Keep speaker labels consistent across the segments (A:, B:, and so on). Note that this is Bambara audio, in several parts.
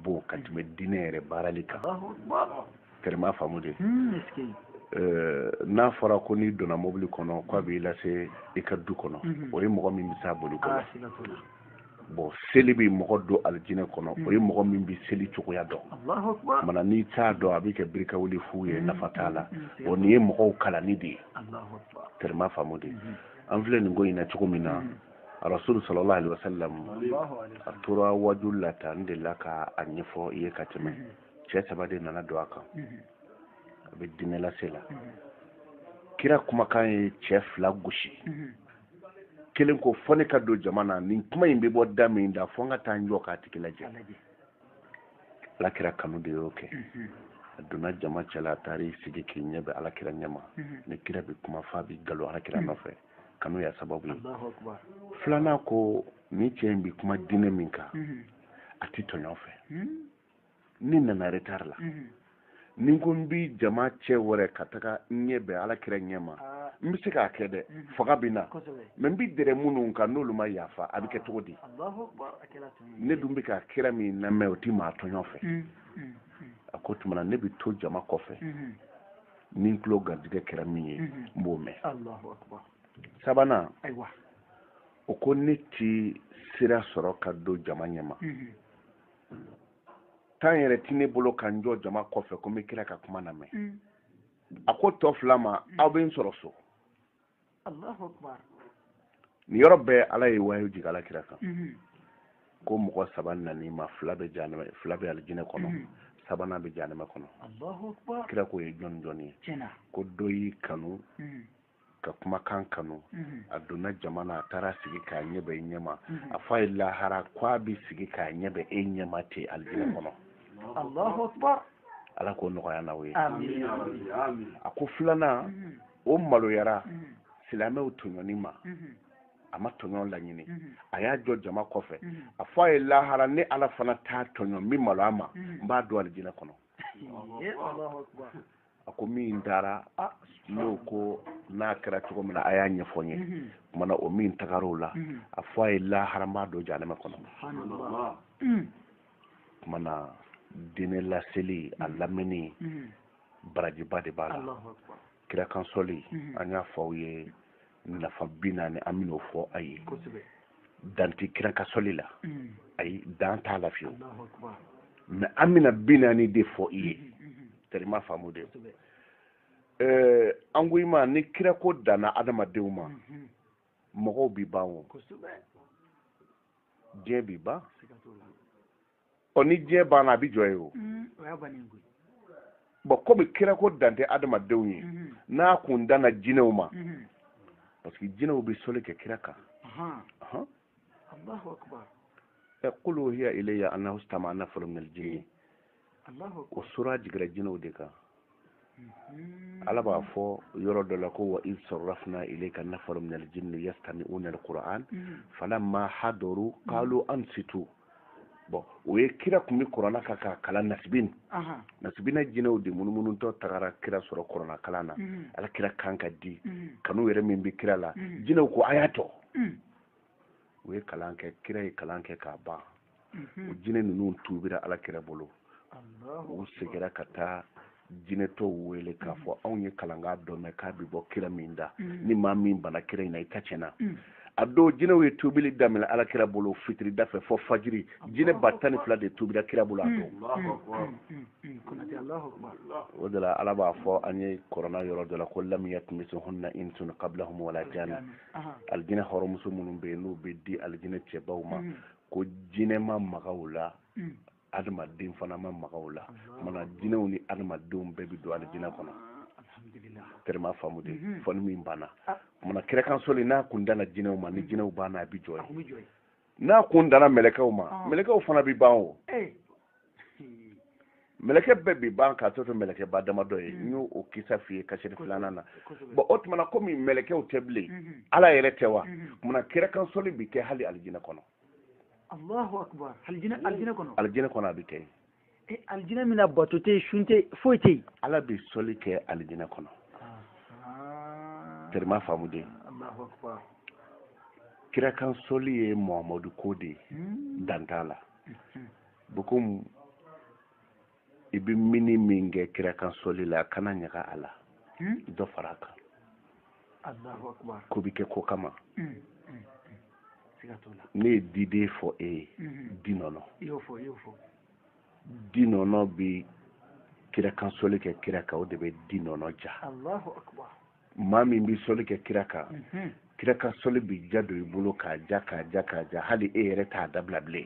A: bon ka tɛmɛ diinɛ yɛrɛ baarali kan terima faamu de hmm, eh, n'a fɔra ko n'i donna mobili kɔnɔ k'a b'i lase i ka du kɔnɔ mhm. o ye mɔgɔ min bɛ s'a boli kɔrɔ ah, bɔn seli bɛ mɔgɔ don alijinɛ kɔnɔ o ye hmm. mɔgɔ min bɛ seli cogoya dɔn mana n'i t'a dɔn a bɛ kɛ biri ka wuli fu ye hmm. nafa t'a la o nin ye mɔgɔw kalanni de ye terima faamu de an filɛ nin ko in na cogo min na rasul sallallahu alaihi wasallam a tora waju la tan n delila ka a ɲɛfɔ i ye ka tɛmɛ cɛ saba de nana don a kan a bɛ diinɛ lase la kira kumakan ye cɛ fila gosi kelen ko fo ne ka don jama na nin kuma in bɛ bɔ da min na fo n ka taa n jɔ k'a tigi lajɛ ala kira kanu de y'o kɛ a donna jama cɛla a taara i sigi k'i ɲɛ bɛn alakira ɲɛma ni kira bɛ kuma f'a bɛ galo alakira nɔfɛ kanu y'a sababu ye filanan ko nin cɛ in bɛ kuma diinɛ min kan mhm. a tɛ tɔɲɔ fɛ mhm. ne nana retard la mhm. ni ko n bɛ jama cɛ wɛrɛ ka taga n ɲɛ bɛn ala kira ɲɛ ma ah. n bɛ se k'a kɛ dɛ fanga bɛ n na mɛ n bɛ dɛrɛ minnu kan n'olu ma yafa a bɛ kɛ cogo di ne dun bɛ ka kira min lamɛn o tɛ maa tɔɲɔ fɛ a ko tuma na ne bɛ to jama kɔfɛ ni n tulo garijɛgɛ kɛra min ye mhm. n b'o mɛn sabanan o ko ne ti sira sɔrɔ ka don jama ɲɛma mhm. tan yɛrɛ ti ne bolo ka n jɔ jama kɔfɛ ko n bɛ kira ka kuma lamɛn mhm. a ko tɔ fila ma aw bɛ n sɔrɔ so nin yɔrɔ bɛɛ ala ye wayu jigin ala kira kan mhm. ko mɔgɔ saba nan'i ma fila bɛ janama fila bɛ alijinɛ kɔnɔ mhm. sabanan bɛ janama kɔnɔ kira k'o ye jɔni jɔni ye ko dɔ y'i kanu mhm. ka kumakan kanu a donna jama na a taara sigi k'a ɲɛ bɛn i ɲɛma a fɔ a ye lahara ko a bɛ sigi k'a ɲɛ bɛn e ɲɛma ten alijinɛ kɔnɔ ala k'o nɔgɔya n'aw ye a ko filanan o maloyara silamɛw tɔɲɔni ma a ma tɔɲɔ laɲini a y'a jɔ jama kɔfɛ a fɔ a ye lahara ne ala fana t'a tɔɲɔ n bɛ malo a ma n b'a don alijinɛ kɔnɔ a ko min taara n'o ko n'a kɛra cogo min na a y'a ɲɛfɔ n ye kuma na o min tagara o la a fɔ a ye lahara n b'a don janɛmɛ kɔnɔ kuma na diinɛ laseli a lamɛnni barajiba de b'a la kira kan sɔli mhm. an y'a fɔ aw ye nafa bi naani an bɛn'o fɔ a ye dan tɛ kira ka sɔli la mhm. ayi dan t'a la fiyewu mɛ an bɛna bi naani de fɔ i ye mhm, terima faamu de eh, an ko i ma ni kira ko danna adamadenw ma mɔgɔw bi ban o diɲɛ bi ban ɔ ni diɲɛ banna a bɛ jɔ yen o bɔn komi kira ko dan tɛ adamadenw ye mhm. n'a kun danna jinɛw ma mhm. parce que jinɛw bɛ soli kɛ kira kan ɛ qul uhiya ilayya annahu stama'a nafarun minal jinni o sura jigira jinɛw de kan ala b'a fɔ yɔrɔ dɔ la ko wa iz sarafna ilayka nafaran minal jinni yastami'unal qur'an falamma hadaru qalu ansitu bɔn o ye kira tun bɛ kuranna kan k'a kalan nasibin nasibina jinɛw de munumunutɔ tagara kira sɔrɔ kuranna kalan na ala kira kan ka di kanu yɛrɛ min bɛ kira la jinɛw ko a y'a to u ye kalan kɛ kira ye kalan kɛ k'a ban o jinɛ ninnu tuubira ala kira bolo u segira ka taa jinɛ tɔw wele k'a fɔ anw ye kalankan dɔ mɛn k'a bɛ bɔ kira min da ni maa min banna kira in na i ta tiɲɛna a don jinɛw ye tuubili daminɛ ala kira bolo fitiri da fɛ fɔ fajiri jinɛ ba tan ni fila de tuubira kira bolo a don o de la ala b'a fɔ an ye kuranna yɔrɔ dɔ la ko lam yatmishunna insun qablahum wala alijinɛ hɔrɔnmuso minnu bɛ yen n'u bɛ di alijinɛ cɛbaw ma mm. ko jinɛ ma maga u la mm. adamaden fana ma maga u la maana jinɛw ni adamadenw bɛɛ bɛ don alijinɛ kɔnɔ terima faamu dɛ mm-hmm. fɔ ni min banna maana kira kan soli n'a kun danna jinɛw ma ni mm. jinɛw banna a bɛ jɔ yen n'a kun danna mɛlɛkɛw ma ah. mɛlɛkɛw fana bi ban o eh. mɛlɛkɛ bɛɛ bi ban k'a tɔ to mɛlɛkɛba damadɔ ye hmm. n y'o o kisa f'i ye kasɛti filanan na bɔn o tuma na komi mɛlɛkɛw tɛ bilen hmm. ala yɛrɛ tɛ wa hmm. maana kira kan sɔli bi kɛ hali alijinɛ kɔnɔ
B: alijinɛ kɔnɔ a bi kɛ
A: alijinɛ
B: min na bato tɛ yen sun tɛ foyi tɛ yen ala bɛ sɔli
A: kɛ alijinɛ kɔnɔ terima faamu dɛ kira kan sɔli ye muhamadu ko de ye hmm. dan t'a la hmm. bɔn komi i bɛ min ni min kɛ kira kan sɔli la kana ɲaga a la hmm. dɔ fara a kan
B: ko bɛ kɛ ko kama mm, mm, mm. ne ye diden
A: fɔ e ye di nɔnɔ di nɔnɔ bɛ kira kan soli kɛ kira kan o de bɛ di nɔnɔ
B: diya maa min
A: bɛ soli kɛ kira kan mm-hmm. kira kan soli bɛ diya don i bolo ka diya ka diya ka diya hali e yɛrɛ t'a dabila bilen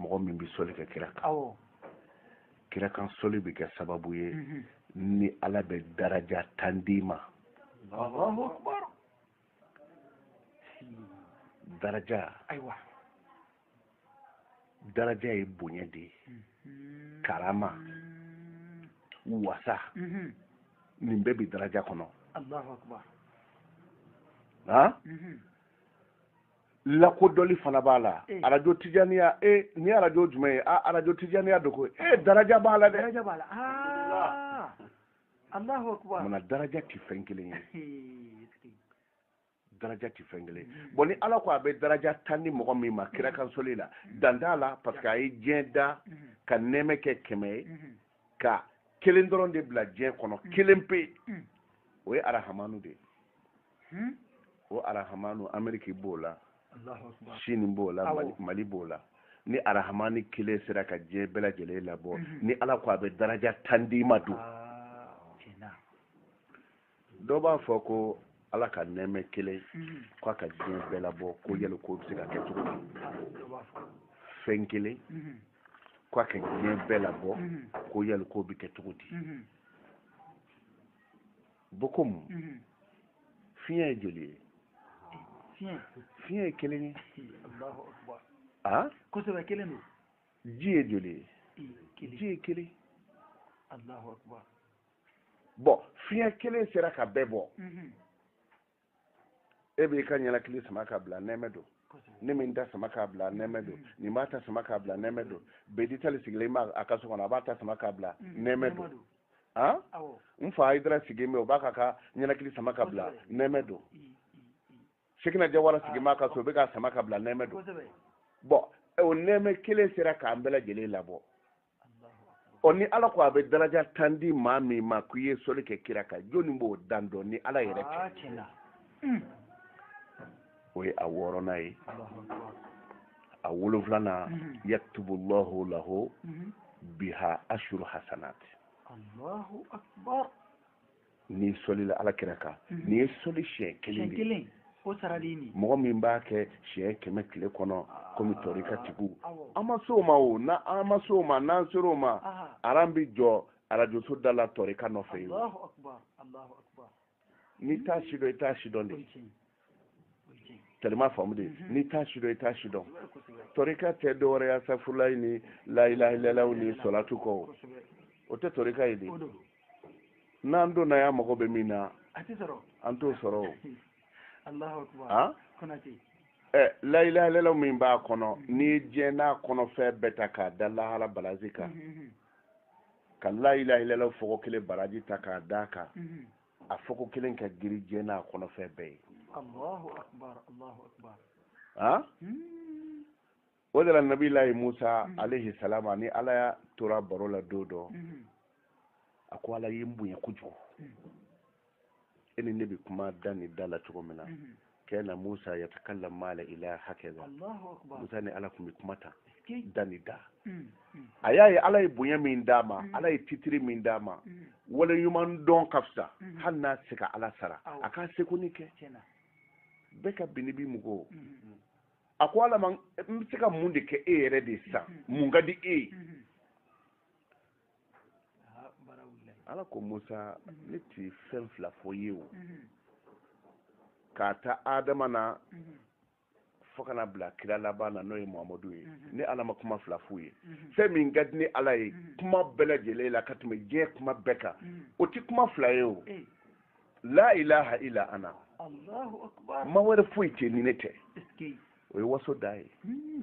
A: mɔgɔ min bɛ sɔli kɛ kira kan kira kan sɔli bɛ kɛ sababu ye mhm. ni ala bɛ daraja tan d'i ma
B: daraja
A: daraja ye bonya de ye mhm. karama wasa mhm. nin bɛɛ bɛ daraja kɔnɔ lakodɔli fana b'a la eh. arajo tijaniya e eh, ni arajo jumɛn ye a ah, arajo tijaniya do ko e eh, daraja b'a la dɛ daraja b'a la ah. alahu
B: akubar mana daraja ti fɛn
A: kelen ye daraja ti fɛn kelen mm. bɔn ni ala ko a bɛ daraja tan di mɔgɔ min ma kira mm. kan sɔli la mm. dan t'a la parce que a ye diɲɛ da ka nɛɛmɛ kɛ kɛmɛ ye ka kelen dɔrɔn de bila diɲɛ kɔnɔ kelen pe o ye arahamanu de ye hmm? o arahamanu ameriki b'o la sini b'o la mali b'o la ni arahamani kelen sera ka diɲɛ bɛɛ lajɛlen labɔ mhm. ni ala ko a bɛ daraja tan d'i ma dun ah, dɔ b'a fɔ ko ala ka nɛɛmɛ kelen mhm. ko a ka diɲɛ bɛɛ labɔ ko yali k'o bɛ se ka kɛ cogo di ah, fɛn kelen mhm. ko a ka diɲɛ bɛɛ labɔ ko yali k'o bɛ kɛ cogo di bokomu mhm. fiɲɛ ye joli ye fiɲɛ ye kelen ye a
B: kosɛbɛ kelen don ji ye
A: joli ye ji
B: ye kelen
A: bɔn fiɲɛ kelen sera ka bɛɛ bɔ mhm. e b'i ka ɲɛnakili sama k'a bila nɛɛmɛ don ne bɛ n ta sama k'a bila nɛɛmɛ don mm. nin b'a ta sama k'a bila nɛɛmɛ don mm. bedi tali sigilen b'a a ka so kɔnɔ a b'a ta sama k'a bila mm. nɛɛmɛ don han n fa ayidara sigilen bɛ o b'a ka ka ɲɛnakili sama k'a bila nɛɛmɛ don sekina jawara ah, sigilen b'a ka so o bɛ k'a sama k'a bila nɛɛmɛ don bɔn o nɛɛmɛ kelen sera k'an bɛɛ lajɛlen labɔ ɔ ni ala ko a bɛ daraja tan di maa min ma k'i ye sɔli kɛ kira kan jɔni b'o dan dɔn ni ala yɛrɛ tɛ hmm. o ye a wɔɔrɔnan ye a wolonfilanan hmm. yaktubu llahu lahu hmm. biha ashuru hasanat n'i sɔlila ala kira kan mhm. n'i ye sɔli siɲɛ kelen de kelen o sara de
B: nin mɔgɔ min b'a kɛ
A: siɲɛ kɛmɛ tile kɔnɔ ah, komi tɔrikatigiw an ma s'o ma o na an ma s'o ma n'an ser'o ma aran bi jɔ arajoso da la tɔrika nɔfɛ ye
B: n'i
A: t'a sidɔn i t'a sidɔn de tellement faamu de mhm. n'i t'a sidɔn i t'a sidɔn tɔrika tɛ dɔwɛrɛ ye asafurulayi ni layilahilayilaw ni sɔlatu kɔ o o tɛ tɔrika ye de n'an donna y'a mago bɛ min na an t'o sɔrɔ
B: o han
A: ɛ layilahilayilaw min b'a kɔnɔ mhm. n'i ye diɲɛ n'a kɔnɔfɛn bɛɛ ta k'a da lahara balansi kan mhm, ka layilahilayilaw fɔko kelen baraji ta k'a d'a kan a fɔko kelen ka giri diɲɛ n'a kɔnɔfɛn bɛɛ ye
B: han
A: hmm. o de la nabilayi musa hmm. alayhi salamu a ni ala y'a tora baro la don dɔ hmm. a ko ala ye n bonya kojugu e ni ne bɛ kuma da ni da la cogo min na kana musa yatakallam mala ila hakaza musa ni ala kun bɛ kuma tan da ni da mm, mm. a y'a ye ala ye bonya min d'a ma mm. ala ye titiri min d'a ma waleɲuman dɔn ka fisa hali n'a se ka ala sara a k'a seko ni kɛ bɛɛ ka bini bi mɔgɔw a ko ala ma n bɛ se ka mun de kɛ e yɛrɛ de san mun ka di e ye ala ko musa ne ti fɛn fila fɔ i ye o mhm. k'a ta adama na mhm. fo ka n'a bila kira laban na n'o ye mahamadu ye mhm. ne ala ma kuma fila f'u ye fɛn min ka di ne ala ye kuma bɛɛ lajɛlen la ka tɛmɛ diɲɛ kuma bɛɛ kan o ti kuma fila ye o eh. la ilaha illa ana ma wɛrɛ foyi tɛ
B: ni ne
A: tɛ o ye waso da ye hmm,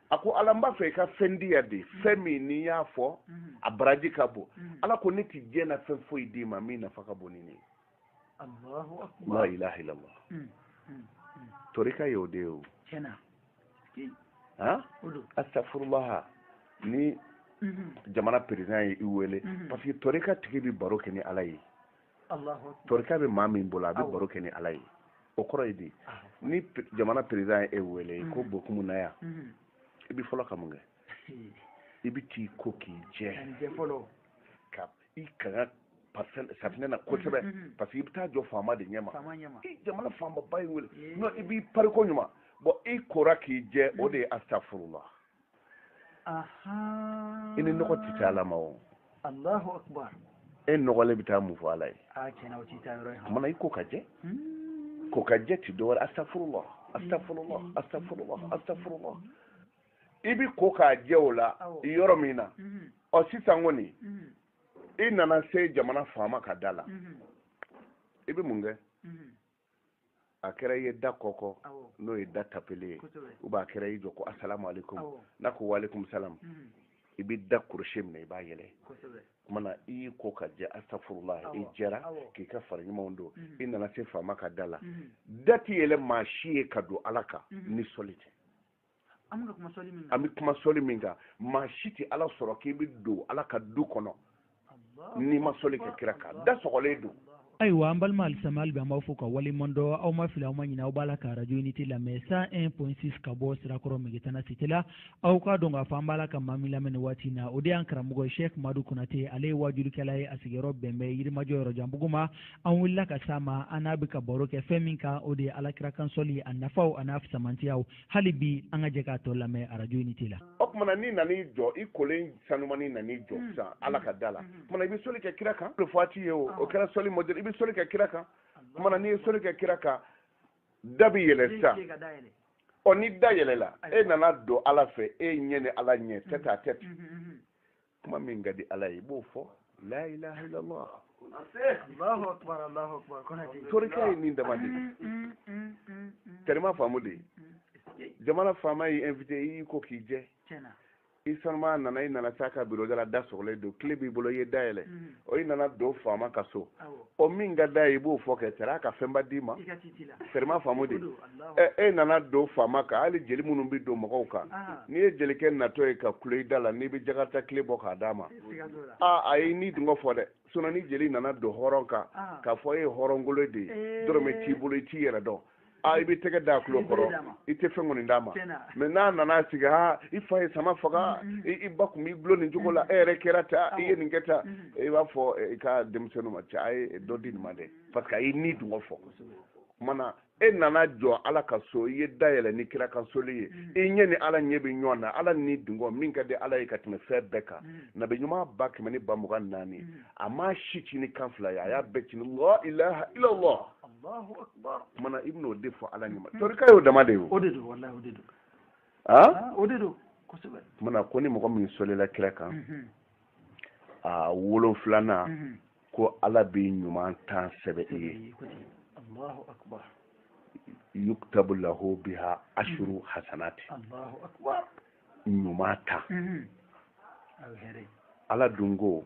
A: a ko ala n b'a fɛ i ka fɛn di yan dɛ fɛn min ni n y'a fɔ a baraji ka bon ala ko ne tɛ diɲɛ na fɛn foyi d'i ma min nafa ka bon ni nin ye la ilaha illallah torika y'o de ye o han astaghfirullah ni jamana président ye i wele parce que torika tigi bɛ baro kɛ ni ala ye torika bɛ maa min bolo a bɛ baro kɛ ni ala ye o kɔrɔ ye di ni jamana président ye e wele ko mm-hmm. bokumu na yan mm-hmm. i bɛ fɔlɔ ka mun kɛ i bɛ t'i ko k'i jɛ ka i kaga safinɛ na kosɛbɛ mm-hmm. parce que i bɛ taa jɔ faama de ɲɛma i jamana faamaba y'i wele non i b'i pari koɲuman bon i kora k'i jɛ o de ye astaghfirullah i ni nɔgɔ tɛ taa ala ma o e nɔgɔlen bɛ taa mun fɔ ala ye kumana i ko ka jɛ hmm. ko ka jɛ ti dɔwɛrɛ astaghfirullah astaghfirullah hmm. astaghfirullah hmm. astaghfirullah i b'i ko ka jɛ o la yɔrɔ min na ɔ sisan kɔni i nana se jamana faama ka da la i bɛ mun kɛ a kɛra i ye da kɔnkɔn n'o ye da tapeli ye ou bien a kɛra i y'i jɔ ko asalamu aleykum n'a ko waaleykum salam mm. i bɛ da crochet minɛ i b'a yɛlɛ kumana i y'i ko ka jɛ astaghfirullah i jɛra k'i ka fara ɲumanw don mm. i nana se faama ka da la mm. da tɛ yɛlɛ maa si ye ka don ala kan ni sɔli tɛ an bɛ kuma sɔli min kan an bɛ kuma sɔli min kan maa si tɛ ala sɔrɔ k'i bɛ don ala ka du kɔnɔ n'i ma sɔli kɛ kira kan da sɔgɔlen don ayiwa an balima
C: alisilamɛw hali bi an b'aw fo ka waleɲuman dɔn aw ma fili aw ma ɲinɛ aw b'a la ka arajo unité lamɛn 101.6 ka bɔ sirakɔrɔ megetana cité la aw k'a dɔn k'a fɔ an b'a la ka maa min lamɛn nin waati na o de y'an karamɔgɔ ye sɛk madu konate ale ye waajulikɛla ye a sigiyɔrɔ bɛn bɛ yirimajɔ yɔrɔjanbugu ma an wulila ka s'a ma an n'a bɛ ka baro kɛ fɛn min kan o de ye alakira kan sɔli a nafaw a n'a fisamantiyaw hali bi an ka jɛ k'a tɔ lamɛn radio unité la o tumana n'i
A: nan'i jɔ i kolen sanuman i nan'i jɔ mm. sisan ala ka da la mm-hmm. o tumana i bɛ soli kɛ kira kan o fati ye o o kɛra soli modɛli i bɛ soli kɛ kira kan o tumana n'i ye soli kɛ kira kan da bɛ yɛlɛ sisan ɔ ni da yɛlɛla e nana don ala fɛ e ɲɛ ni ala ɲɛ tête à tête kuma min ka di ala ye i b'o fɔ la ilaha illallah torika ye nin dama de teri i m'a faamu de jamana faama y'i invité i y'i ko k'i jɛ i sanuman nana i nana s'a ka biro da la da sɔgɔlen don kile b'i bolo i ye da yɛlɛ o i nana don faama ka so o min ka d'a ye i b'o fɔ kɛ teri a ka fɛnba d'i ma teri i m'a faamu de e nana don faama kan hali jeli minnu bɛ don mɔgɔw kan n'i ye jelikɛ natɔ ye ka kulo i da la n'i bɛ jakarita kile bɔ k'a d'a ma aa a y'i ni dungɔ fɔ dɛ sinɔn ni jeli nana don hɔrɔn kan k'a fɔ e ye hɔrɔnkolo de ye dɔrɔmɛ t'i bolo i t'i yɛrɛ dɔn a i bɛ tɛgɛ da tulo kɔrɔ i tɛ fɛn kɔni d'a ma mɛ n'a nana sigi ha i fa ye sama faga i ba tun b'i dulon nin cogo la e yɛrɛ kɛra ta i ye nin kɛ ta i b'a fɔ i ka denmisɛnninw ma cɛ a ye dɔ di nin ma dɛ parce que a y'i ni dungɔ fɔ kumana e nana jɔ ala ka so i ye da yɛlɛ ni kira ka soli ye i ɲɛ ni ala ɲɛ bɛ ɲɔgɔn na ala ni dungɔ min ka di ala ye ka tɛmɛ fɛn bɛɛ kan nabi ɲuman ba kɛmɛ ni ba mugan naani a ma si ci ni kan fila ye a y'a bɛɛ ci ni la ilaha illallah kumana i bɛn'o de fɔ ala ɲuman torika y'o dama de ye o de don walahi o de
B: don aa o de don kosɛbɛ kumana ko ni mɔgɔ min
A: solila kira kan mhm. a wolonfilanan mhm. ko ala bɛ ɲuman tan sɛbɛn i ye allahu akbar yuktabu lahu biha ashru mhm.
B: hasanati allahu akbar ɲuman
A: tan ala dun ko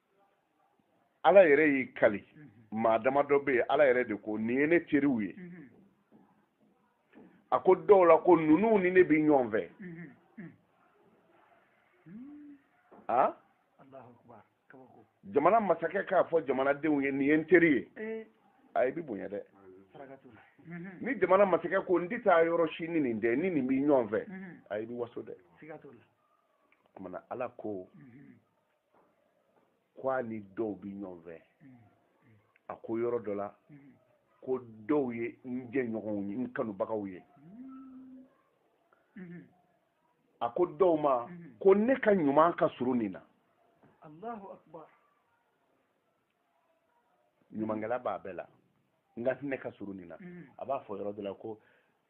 A: ala yɛrɛ y'i kali maa damadɔ bɛ yen ala yɛrɛ de ko nin ye ne teriw ye a ko dɔw la ko ninnu ni ne bɛ ɲɔgɔn fɛ a jamana masakɛ k'a fɔ jamanadenw ye nin ye n teri ye eh. a i bɛ bonya dɛ ni jamana masakɛ ko n tɛ taa yɔrɔ si ni nin tɛ n ni nin bɛ ɲɔgɔn fɛ a i bɛ waso dɛ kumana ala ko ko a ni dɔw bɛ ɲɔgɔn fɛ a ko yɔrɔ dɔ la ko dɔw ye n jɛɲɔgɔnw ye n kanubagaw ye a ko dɔw ma ko ne ka ɲuman ka surun nin na ɲumankɛla b'a bɛɛ la nka ne ka surun nin na a b'a fɔ yɔrɔ dɔ la ko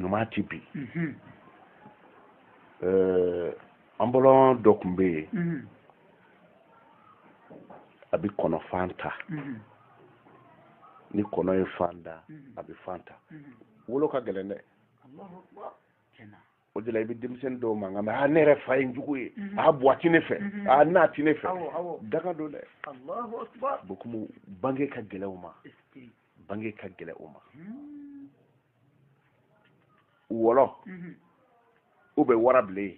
A: ɲuman ti bi an bɔlɔn dɔ tun bɛ yen a bɛ kɔnɔfan ta ni kɔnɔ ye fan da a bɛ fan ta wolo ka gɛlɛn dɛ o de la i bɛ denmisɛnnin dɔw mankan mɛ aa ne yɛrɛ fa ye n jugu ye mhm. aa buwa ti ne fɛ mhm. aa na ti ne fɛ danga don dɛ bokumu bange ka gɛlɛn u ma bange ka gɛlɛn u ma hmm. wɔlɔ mhm. u bɛ warabilen ye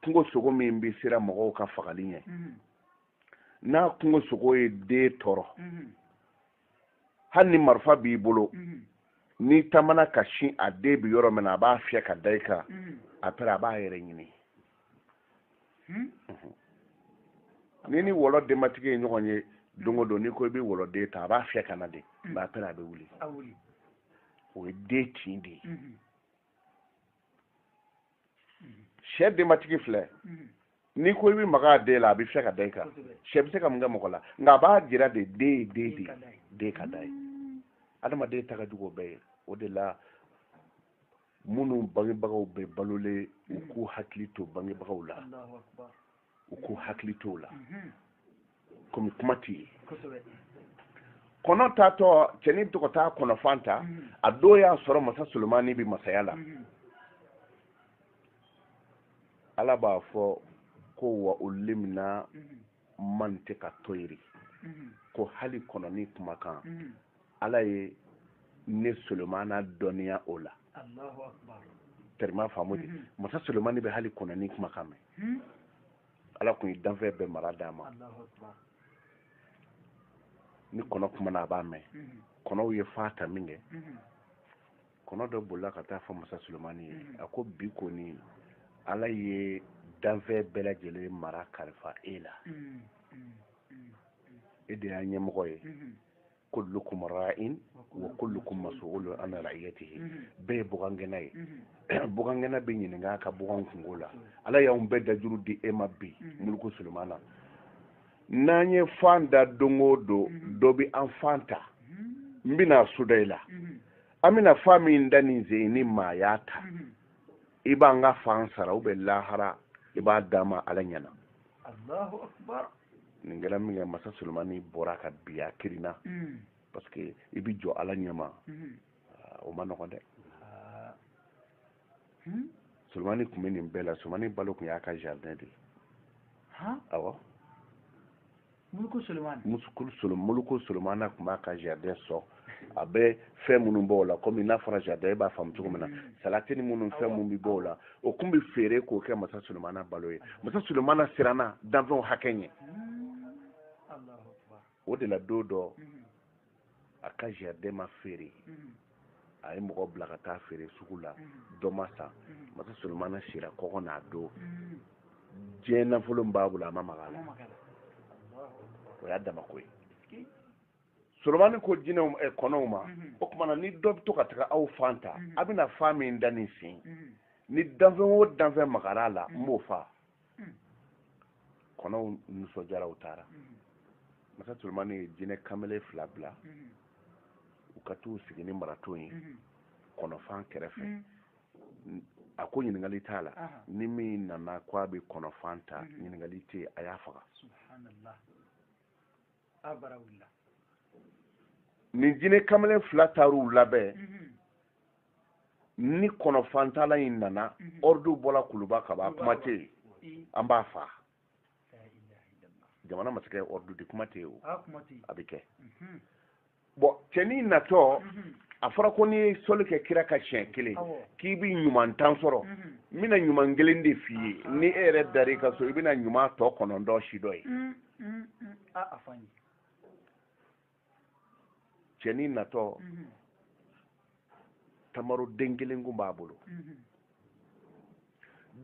A: kungo sogo min bɛ siran mɔgɔw ka fagali ɲɛ n'a kungo sogo ye den tɔɔrɔ hali ni marifa b'i bolo mhm. n'i taamana ka sin a den bi yɔrɔ min na a b'a fiyɛ ka da i kan mhm. après a b'a yɛrɛ ɲini hmm? mhm. n'i ni wɔlɔ denbatigi ye ɲɔgɔn ye don o don n'i ko i bɛ wɔlɔden ta a b'a fiyɛ ka na de hmm. mais après a bɛ wuli o ye den tin de ye sɛ denbatigi filɛ n'i ko i bɛ maga a den la a bɛ fiyɛ ka da i kan sɛ bɛ se ka mun kɛ mɔgɔ la nka a b'a jira de den ye den de ye den ka d'a ye adamaden ta ka jugu o bɛɛ ye o de la minnu bangebagaw bɛ balolen u k'u hakili to bangebagaw la u k'u hakili t'o la mhm. komi kuma tɛ yen kɔnɔ taatɔ cɛni bɛ to ka taa kɔnɔfan ta mhm. a don y'a sɔrɔ masa solomani bɛ masaya la mhm. ala b'a fɔ ko wa ullimna mantiqa tayri ko hali kɔnɔni kumakan ala ye ne solomana dɔnniya o la tɛrima faamu de mhm. masa solomani bɛ hali kɔnɔni kumakan mɛn hmm? ala kun ye danfɛn bɛɛ mara d'a ma ni kɔnɔ kumana a b'a mɛn mhm. kɔnɔw ye fan ta minkɛ mhm. kɔnɔ dɔ bolila ka taa fɔ masa solomani ye a ko bi kɔni ala ye danfɛn bɛɛ lajɛlen mara kalifa e la hmm, hmm, e de y'a ɲɛmɔgɔ ye kullukum ra'in wa kullukum mas'ulun an ra'iyatihi bɛɛ ye bugangɛnna ye bugangɛnna bɛ ɲininka a ka bugan kunko la ala y'anw bɛɛ dajuru di e ma bi muluku sulemana n'an ye fan da don o don dɔ bɛ an fan ta n bɛna soda i la an bɛna fan min da nin sen ni maa y'a ta i b'an ka fan sara u bɛ lahara i b'a d'an ma ala ɲɛna allahu akbar nin kɛra minkɛ masa solomani bɔra ka bin a kirinna mm. parce que i bi jɔ ala ɲɛma mm-hmm. ah, o ma nɔgɔn dɛ ah. hmm? solomani tun bɛ nin bɛɛ la solomani balo tun y'a ka jardin de ye awɔ muluku solomana musukulu solo muluku solomana tun b'a ka jardin sɔn a bɛ fɛn minnu bɔ o la komi n'a fɔra jardin e b'a faamu cogo min na mm-hmm. salati ni minnu fɛn minnu bɛ bɔ o la o tun bɛ feere k'o kɛ masa solomana balo ye masa solomana siranna danfɛnw hakɛ ɲɛ mm-hmm. o de la don dɔ mm-hmm. a ka jardin ma feere mhm. a ye mɔgɔ bila ka taa feere sugu la mhm. dɔ ma san mhm. masa solomana sira kɔngɔ n'a don diɲɛ nafolo min b'a bolo a ma maga a la o y'a dama ko ye solomani ko jinɛw eh, kɔnɔw ma o tuma na ni dɔ bɛ to ka taga aw fan ta a bɛna fan min da nin sen ni danfɛn o danfɛn magara a la n b'o faa hmm. kɔnɔw nisɔndiyara u taara hmm. masa solomani ye jinɛ kamalen fila bila hmm. u ka t'u sigi ni marato ye kɔnɔfan kɛrɛfɛ a ko ɲininkali t'a la ni min nana ko a bɛ kɔnɔfan ta ɲininkali tɛ a y'a faga nin jinɛ kamalen fila taar'u labɛn ni kɔnɔfantala in nana ɔridu bɔla kuluba ka ban kuma tɛ yen an b'a faa jamana masakɛ ɔridu di kuma tɛ yen o a bɛ kɛ bon cɛnin natɔ mhm. a fɔra ko n'i ye sɔli kɛ kira kan siɲɛ kelen k'i bi ɲuman tan sɔrɔ mhm. n bɛna ɲuman kelen de f'i ye ni e yɛrɛ dar'i ka so i bɛna ɲuman tɔ kɔnɔntɔn sidɔn yen mm, mm, mm. cɛnin natɔ mhm. tamaro den kelen kun b'a bolo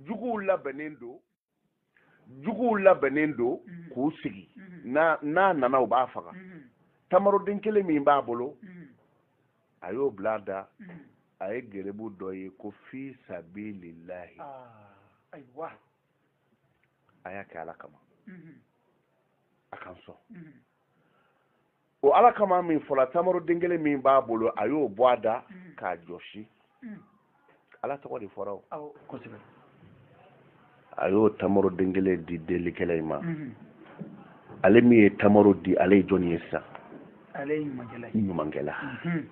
A: juguw labɛnnen don juguw labɛnnen don mhm. k'u sigi mhm. n'a nana u b'a faga mhm. tamaroden kelen min b'a bolo a y'o bil'a da a ye gerebu dɔ ye ko fi sabilillahi ah, a y'a kɛ ala kama a k'an sɔn o ala kama min fɔla tamaro den kelen min b'a bolo a y'o bɔ a da mm. k'a jɔsi mm. ala tɔgɔ de fɔra o a y'o tamaro den kelen di delikɛla in ma mm-hmm. ale min ye tamaro di ale ye jɔni ye sisan ale ye ɲumankɛla ye ɲumankɛla mm-hmm.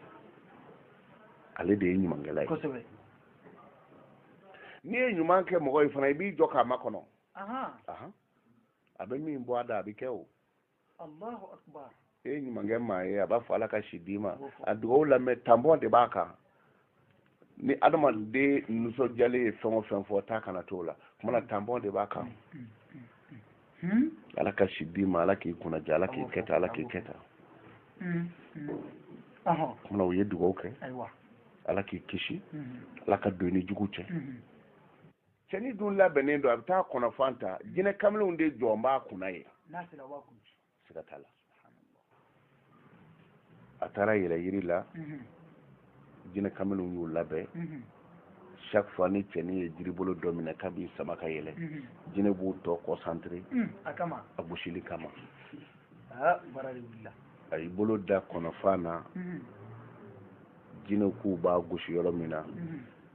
A: ale de ye ɲumankɛla ye n'i ye ɲuman kɛ mɔgɔ ye fana i b'i jɔ k'a makɔnɔ a bɛ min bɔ a da a bɛ kɛ o e ye ɲuman kɛ maa ye a b'a fɔ ala ka si d'i ma a dugawu lamɛn tanpɔn de b'a kan ni adamaden nisɔndiyalen ye fɛn o fɛn fɔ taa kana t'o la kumana tanpɔn de b'a kan ala ka si d'i ma ala k'i kunnadiya ala k'i kɛta ala k'i kɛta kumana u ye dugawu kɛ ala k'i kisi ala ka don i ni jugu cɛ cɛni dun labɛnnen don a bɛ taa kɔnɔfan ta jinɛ kamilenw de jɔlen b'a kunna yen siga t'a la a taara yɛlɛ yiri la mhm. jinɛ kamilenw y'u labɛn mhm. chaque fois ni cɛni ye jiribolo dɔ minɛ k'a b'i sama ka yɛlɛ mhm. jinɛw b'u to concentré mm, a gosili kama ah, a y'i bolo da kɔnɔfan na jinɛw k'u b'a gosi yɔrɔ min na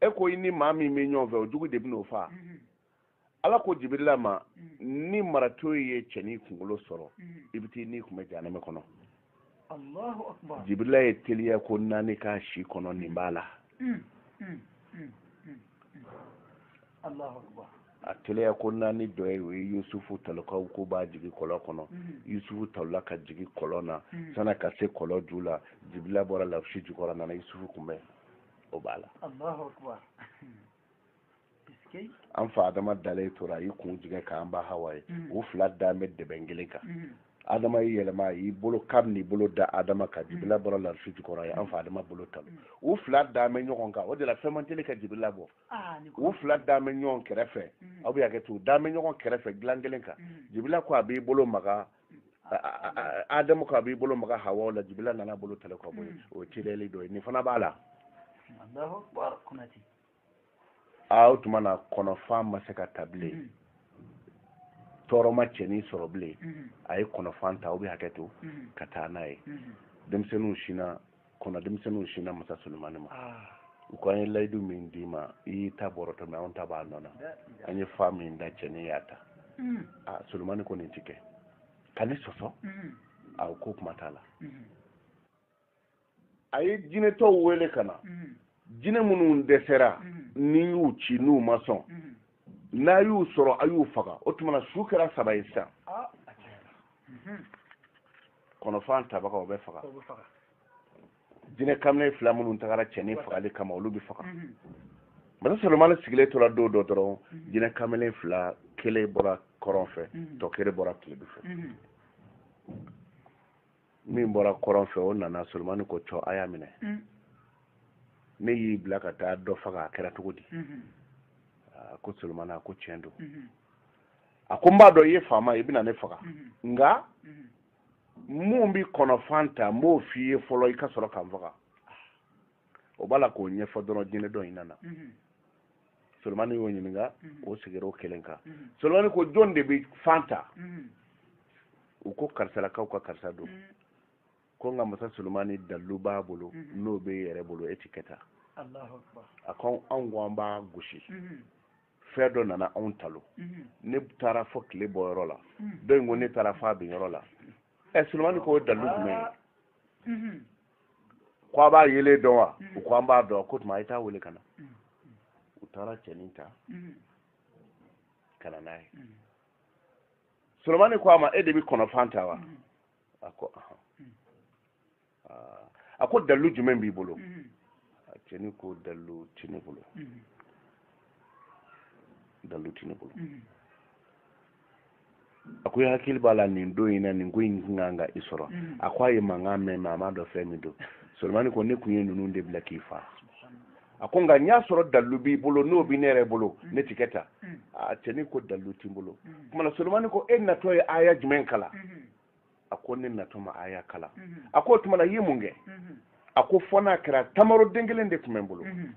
A: e ko i ni maa min bɛ ɲɔgɔn fɛ o jugu de bɛn'o faa mhm. ala ko jibirila ma mhm. ni marato ye cɛnin kunkolo sɔrɔ mhm. i bɛ t'i ni kunbɛn jahanama kɔnɔ jibirila ye teliya ko naani k'a si kɔnɔ nin b'a la a teliya ko naani dɔ ye o ye yusufu talon k'u ko b'a jigin kɔlɔn kɔnɔ mhm. yusufu talonna ka jigin kɔlɔn na mhm. san'a ka se kɔlɔn ju la jibirila bɔra larusi jukɔrɔ nana yusufu kunbɛn o b'a la an fa adama dalen tora a y'i kun jigin k'an ba hawa ye mhm. u fila dalen bɛ dɛbɛn kelen kan adama y'i yɛlɛma y'i bolo k'a bɛn'i bolo da adama kan jibirila bɔra larusi jukɔrɔ ye an fa adama bolo talon u fila dalen bɛ ɲɔgɔn kan o de la fɛn man teli ka jibirila bɔ u fila dalen bɛ ɲɔgɔn kɛrɛfɛ mm. aw bɛ hakɛ to dalen bɛ ɲɔgɔn kɛrɛfɛ dilan kelen kan mm. jibirila ko a b'i bolo maga adama ko a b'i bolo maga hawa la jibirila nana bolo talon ka bɔ yen o ye teliyali dɔ ye nin fana b'a la o tuma na kɔnɔfan ma se ka ta bilen mm. tɔɔrɔ ma cɛnin sɔrɔ bilen a ye kɔnɔfan ta aw bɛ hakɛ to ka taa n'a ye denmisɛnninw sinna kɔnɔ denmisɛnninw sinna masa sulemani ma u ko an ye layidu min d'i ma i y'i ta bɔrɔtɔ mais anw ta b'a nɔ na an ye fan min da cɛnin y'a ta a sulemani ko nin ti kɛ ka ne sɔsɔ a ko kuma t'a la a ye jinɛ tɔw wele ka na jinɛ minnu dɛsɛra n'i y'u ci n'u ma sɔn n'a y'u sɔrɔ a y'u faga o tuma na su kɛra saba ye sisan kɔnɔfan tabaga o bɛ faga jinɛ kamalen fila minnu tagara cɛnin fagali kama olu bɛ faga masa solomani sigilen tora don dɔ dɔrɔn jinɛ kamalen fila kelen bɔra kɔrɔn fɛ tɔ kelen bɔra tilebin fɛ min bɔra kɔrɔn fɛ o nana solomani ko cɔ a y'a minɛ mm. ne y'i bila ka taa dɔ faga a kɛra cogo di mm-hmm. a ko solomani a ko tiɲɛ don mm-hmm. a ko n b'a dɔn i ye faama i bɛna ne faga mm-hmm. nka mun bi kɔnɔfan ta n b'o f'i ye fɔlɔ i ka sɔrɔ ka n faga o b'a la k'o ɲɛfɔ dɔrɔn jinɛ dɔ in nana solomani y'o ɲininka mm-hmm. o sigira o kelen kan mm-hmm. solomani ko jɔn de bɛ fan ta mm-hmm. u ko karisalakaw ka karisa don ko nka masa solomani dalilu b'a bolo n'o b'e yɛrɛ bolo e ti kɛ ta a ko anw ko an b'a gosi fɛn dɔ nana anw talon ne taara fɔ tile bɔ yɔrɔ la dɔ in ko ne taara fɔ a bin yɔrɔ la ɛ solomani ko o dalilu jumɛn ye ko a b'a yelen dɔn wa u ko an b'a dɔn ko tuma a ye taa wele ka na u taara cɛnin ta ka na n'a ye solomani ko a ma e de bɛ kɔnɔfan ta wa a ko a ko dalilu jumɛn b'i bolo cɛnin ko dalilu tɛ ne bolo dalilu tɛ ne bolo a ko i hakili b'a la nin don in na nin ko in kan ka i sɔrɔ mm. a ko a ye mankan mɛn mais a m'a dɔn fɛn min don solomani ko ne kun ye ninnu de bila k'i faa a ko nka n y'a sɔrɔ dalilu b'i bolo n'o bɛ ne yɛrɛ bolo mm. ne ti kɛ ta mm. a cɛnin ko dalilu t'i bolo kumana solomani ko e natɔ ye aya jumɛn kalan mm-hmm. a ko ne natɔ ma aya kalan mhm. a ko o tuma na i ye mun kɛ mhm. a ko fɔ n'a kɛra tamaro den kelen de tun bɛ n bolo mhm.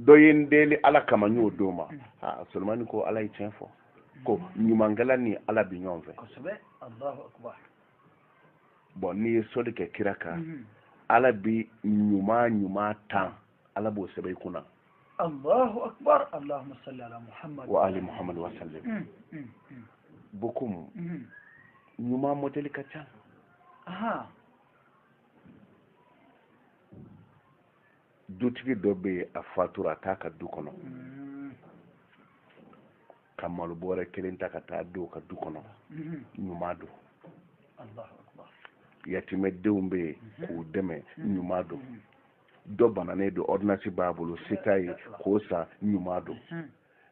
A: dɔ ye n deli ala kama n y'o d'o ma aa solomani ko ala ye tiɲɛ fɔ ko ɲumankɛla ni ala bi ɲɔgɔn fɛ bon n'i ye sɔli kɛ kira kan ala bi ɲuman ɲuman tan ala b'o sɛbɛn i kunna
C: allahu akbar allahumma salli ala muhammad wa ali muhammad
A: wa sallim mm, mm, mm. bon ko ɲuman modeli ka ca aha dutigi dɔ bɛ yen a fatura a t'a ka du kɔnɔ ka malo bɔrɛ kelen ta ka taa don ka du kɔnɔ ɲuman don yatimɛdenw bɛ yen k'u dɛmɛ ɲuman don dɔ bananen don ordonnance b'a bolo se t'a ye k'o san ɲuman don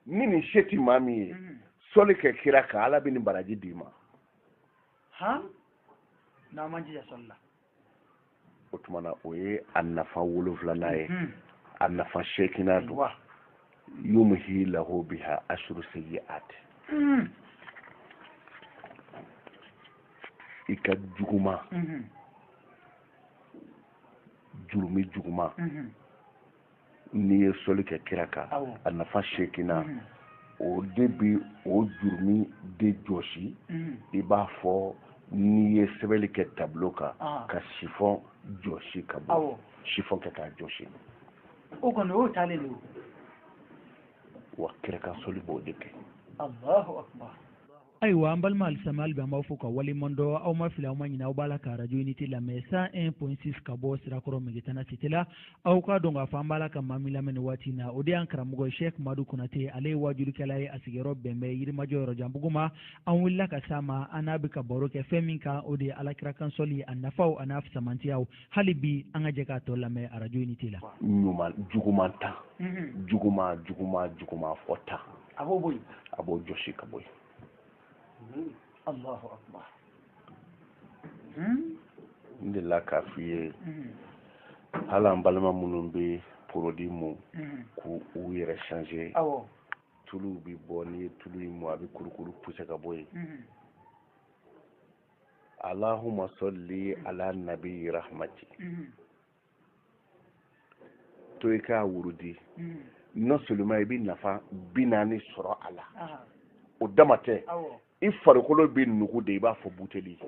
A: ni nin se ti maa min ye sɔli kɛ kira kan ala bɛ nin baraji d'i ma
C: n'an m'an jija sɔli la o
A: tuma na o ye a nafa wolonfilanan ye a nafa seeginan don yumhi lahu biha ashru sayyi'ati i ka juguma jurumi juguman mhm. n'i ye sɔli kɛ kira kan a nafa seeginan mhm. o de bi o jurumi de jɔsi mhm. i b'a fɔ n'i ye sɛbɛnni kɛ tableau kan ah. ka chiffon jɔsi ka bɔ chiffon kɛ k'a jɔsi o kɔni
C: o taalen don
A: wa kira kan sɔli b'o de kɛ
C: ayiwa an balima alisilamɛw hali bi an b'aw fo k'aw waleɲumandɔn aw ma fili aw ma ɲinɛ aw b'a la ka arajo unité lamɛn cent un point six ka bɔ sirakɔrɔ megetana cité la aw k'a dɔn k'a fɔ an b'a la ka maa min lamɛn nin waati in na o de y'an karamɔgɔ ye sɛk madu konate ale ye waajurukɛla ye a sigiyɔrɔ bɛn bɛ yirimajɔ yɔrɔjanbugu ma an wulila ka s'a ma an n'a bɛ ka baro kɛ fɛn min kan o de ye ala kira kan sɔli a nafaw a n'a fisamantiyaw hali bi an ka jɛ k'a tɔ lamɛn arajo unité la ɲuman juguman
A: ta juguman juguman juguman fɔ ta a b'o bɔ
C: yen a b'o jɔsi ka
A: bɔ yen
C: alahu akbar
A: n delila k'a f'i ye hali an balima minnu bɛ produit mu k'u yɛrɛ changer tuluw bɛ bɔ n'i ye tulu in mu a bɛ kurukuru puse ka bɔ yen allahumma salli ala nabi rahmati to i k'a wurudi mm. non seulement i bɛ nafa bi naani sɔrɔ a la o dama tɛ i farikolo bɛ nugu de i b'a fɔ buteli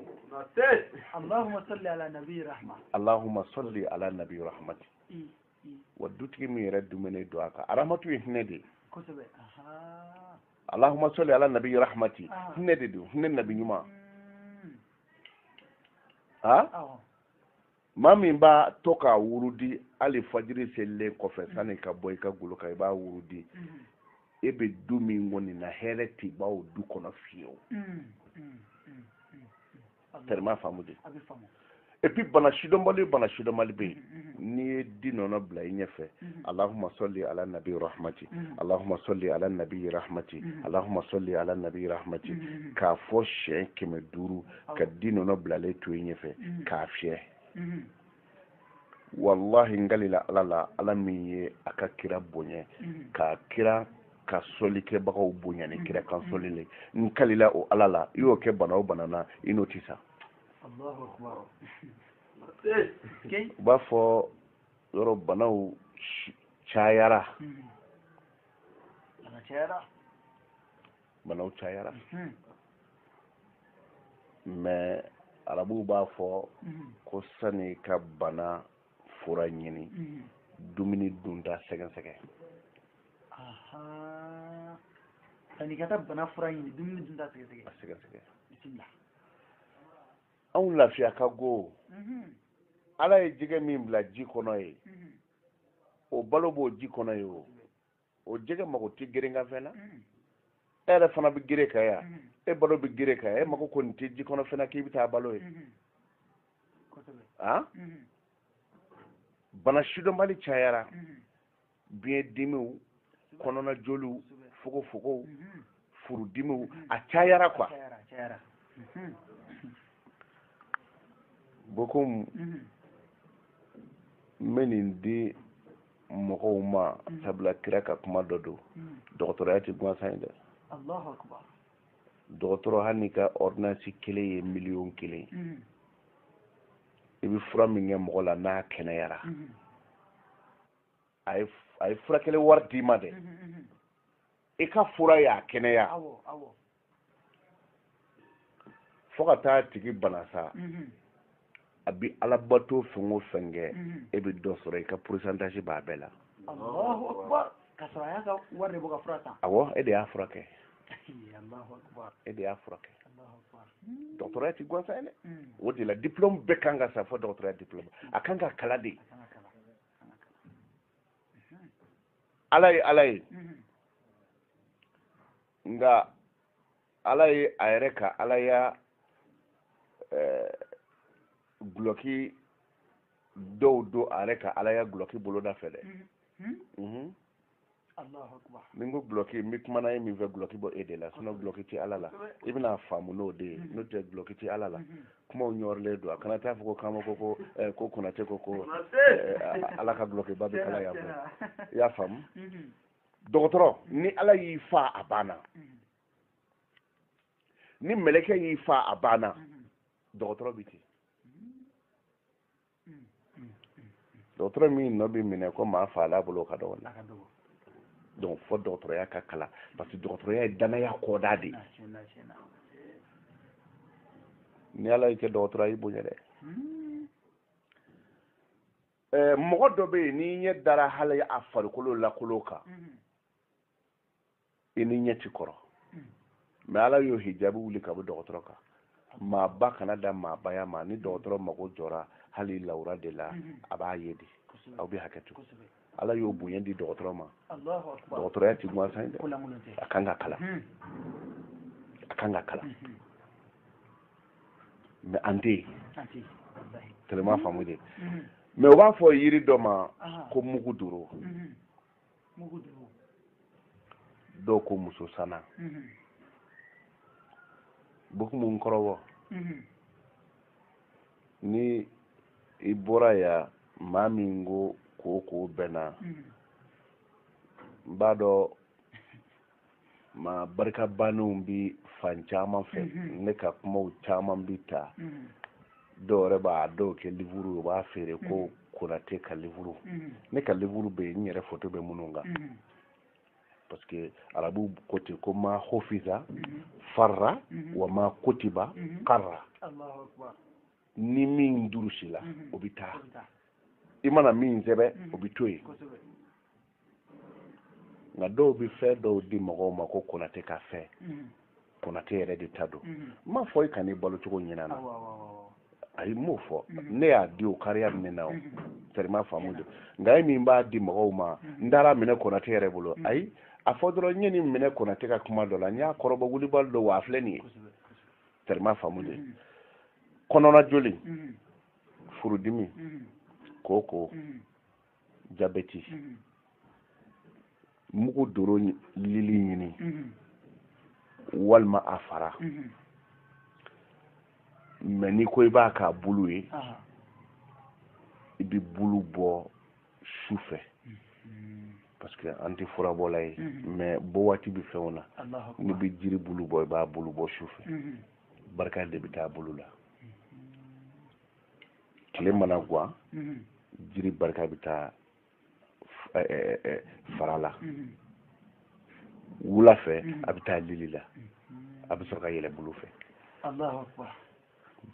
A: allahumma salli ala nabi
C: rahmati allahumma
A: salli ala nabi rahmati mm, mm. wa dutigi min yɛrɛ dumuni don a kan rahmatu ye hinɛ de ye kosɛbɛ allahumma salli ala nabi rahmati hinɛ de don hinɛ nabi ɲuman ha maa min b'a to k'a wurudi hali fajiri selilen kɔfɛ sanni i ka bɔ i ka golo kan i b'a wurudi e bɛ du min kɔni na hɛrɛ tɛ ban o du kɔnɔ fiyewu tɛrɛma faamu de et puis bana sidɔnbali bana sidɔnbali bɛ yen n'i ye di nɔnɔ bila i ɲɛfɛ alahuma sɔli ala nabi rahmati alahuma sɔli ala nabi rahmati alahuma sɔli ala nabi rahmati k'a fɔ siɲɛ kɛmɛ duuru ka di nɔnɔ bilalen to i ɲɛfɛ mhm. k'a fiyɛ mhm. wallahi n kalila ala la ala min ye a ka kira bonya mhm. ka kira ka sɔli kɛbagaw bonya ni kira kan sɔli le n kalila o ala la i y'o kɛ bana o bana na i n'o tɛ sa u b'a fɔ yɔrɔ banaw cayara banaw cayara mhm. mais arabuw b'a fɔ mhm. ko sani ka bana fura ɲini mhm. dumuni dunta sɛgɛsɛgɛ sani
B: ka taa bana fura ɲini dumuni dunta sɛgɛsɛgɛ a sɛgɛsɛgɛ
A: bisimila anw lafiya ka go ala ye jɛgɛ min bila ji kɔnɔ yen o balo b'o ji kɔnɔ yen o o jɛgɛ mago tɛ gerekanfɛn na mm. e yɛrɛ fana bɛ gere kan yan mm. e balo bɛ gere kan yan e mago kɔni tɛ ji kɔnɔ fɛn na k'i bɛ taa balo yen mm-hmm. ah? mm-hmm. bana sidɔnbali cayara mm-hmm. biɲɛ dimiw kɔnɔna joliw fogofogow furudimiw a cayara quoi bokum n bɛ nin di mɔgɔw ma sabula kira ka kuma dɔ don dɔgɔtɔrɔya tɛ gansan ye dɛ dɔgɔtɔrɔ hali n'i ka ordonnance kelen ye miliyɔn kelen i bɛ fura min kɛ mɔgɔ la n'a kɛnɛyara a ye furakɛli wari d'i ma dɛ i ka fura y'a kɛnɛya fo ka t'a tigi bana sa a bi alabato fɛn o fɛn kɛ e bɛ dɔ sɔrɔ i ka pourcentage b'a bɛɛ la awɔ e de y'a furakɛ e de y'a furakɛ dɔgɔtɔrɔya ti gansan ye dɛ o de la diplôme bɛɛ kan ka san fo dɔgɔtɔrɔya diplôme a kan ka kalan de ala ye ala ye nka ala ye a yɛrɛ ka alaya gulɔki eh, dɔw don a yɛrɛ ka alaya gulɔki boloda fɛ dɛ ni n ko gulɔki n bɛ kumana ye min fɛ gulɔki bɔ e de la sinon gulɔki tɛ ala la i bɛn'a faamu n'o de ye n'o tɛ gulɔki tɛ ala la kumaw ɲɔrilen don a kana t'a fɔ ko kama ko ko eh, ko konate ko ko eh, ala ka gulɔkiba bɛ kala yan fɛ i y'a faamu dɔgɔtɔrɔ ni ala y'i faa a banna ni mɛlɛkɛ y'i faa a banna dɔgɔtɔrɔ bɛ ten dɔgɔtɔrɔ min nɔ bɛ minɛ ko maa faal'a bolo ka dɔgɔ donc fo dɔgɔtɔrɔya ka kalan parce que dɔgɔtɔrɔya ye dannaya kɔdan de ye ni ala y'i kɛ dɔgɔtɔrɔ a y'i bonya dɛ mɔgɔ dɔ bɛ yen n'i ɲɛ dara hali a farikolo lankolon kan i ni ɲɛ ti kɔrɔ mais ala y'o hijabi wuli ka bɔ dɔgɔtɔrɔ kan maaba kana da maabaya ma ni dɔgɔtɔrɔ mago jɔra hali lawura de la a b'a ye de aw bɛ hakɛ to ala y'o bonya di dɔgɔtɔrɔ ma dɔgɔtɔrɔya ti gansan ye dɛ a kan ka kalan hmm. a kan ka kalan hmm, hmm. mais an tɛ yen tellement faamu de mais u b'a fɔ yiri dɔ ma ko mugu duro dɔw ko muso sana mhm. bokumu n kɔrɔbɔ mhm. ni i bɔra yan maa min ko ko ko bɛnna mhm. n b'a dɔn maa barika bannenw bi fan caman fɛ mhm. ne ka kumaw caman bi ta mhm. dɔw yɛrɛ b'a dɔw kɛ livuru u b'a feere ko mhm. konate ka livuru ne ka livuru bɛ yen n yɛrɛ foto bɛ minnu kan parce que arabu ko ten ko ma hofiza farra wa ma kotiba karra ni min durusila mhm. o bɛ taa i mana min sɛbɛ mhm. o bɛ to yen nka dɔw bɛ fɛn dɔw di mɔgɔw ma ko konate ka fɛn mhm. konate yɛrɛ de ta don n m'a fɔ i kan'i balo cogo ɲin'a na ayi n m'o fɔ ne y'a di o kariya min na o terima faamu dɛ nka e min b'a di mɔgɔw ma n taar'a minɛ konate yɛrɛ bolo ayi a fɔ dɔrɔn n ye nin minɛ konate ka kuma dɔ la n y'a kɔrɔbɔ wulibali don wa a filɛ nin ye terima faamu dɛ kɔnɔna joli furudimi koko jabɛti mugu doro lili ɲini walima a fara mais n'i ko i b'a k'a bulu ye i bɛ bulu bɔ su fɛ parce que an tɛ furabɔla ye mais bɔ waati bɛ fɛnw na n'i bɛ jiri bulu bɔ i b'a bulu bɔ su fɛ barika de bɛ taa bulu la tile mana gan jiri barika bɛ taa fara la wula fɛ a bɛ taa lili la a bɛ sɔrɔ ka yɛlɛ bulu fɛ
B: allahu akbar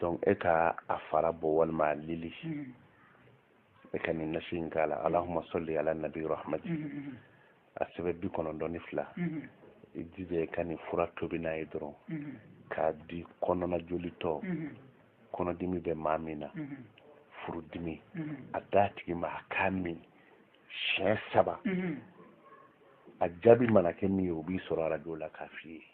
B: donc e
A: ka a fara bɔ walima a lili e ka nin nasi in k'a la allahumma salli ala nabi rahmati mm-hmm, mm-hmm. a sɛbɛ bi kɔnɔntɔn ni fila mm-hmm. i jija i ka nin fura tobi n'a ye dɔrɔn k'a di kɔnɔna jolitɔ kɔnɔdimi bɛ maa min na furudimi a d'a tigi ma a k'a min siɲɛ saba a jaabi mana kɛ min ye o b'i sɔrɔ arajo la k'a f'i ye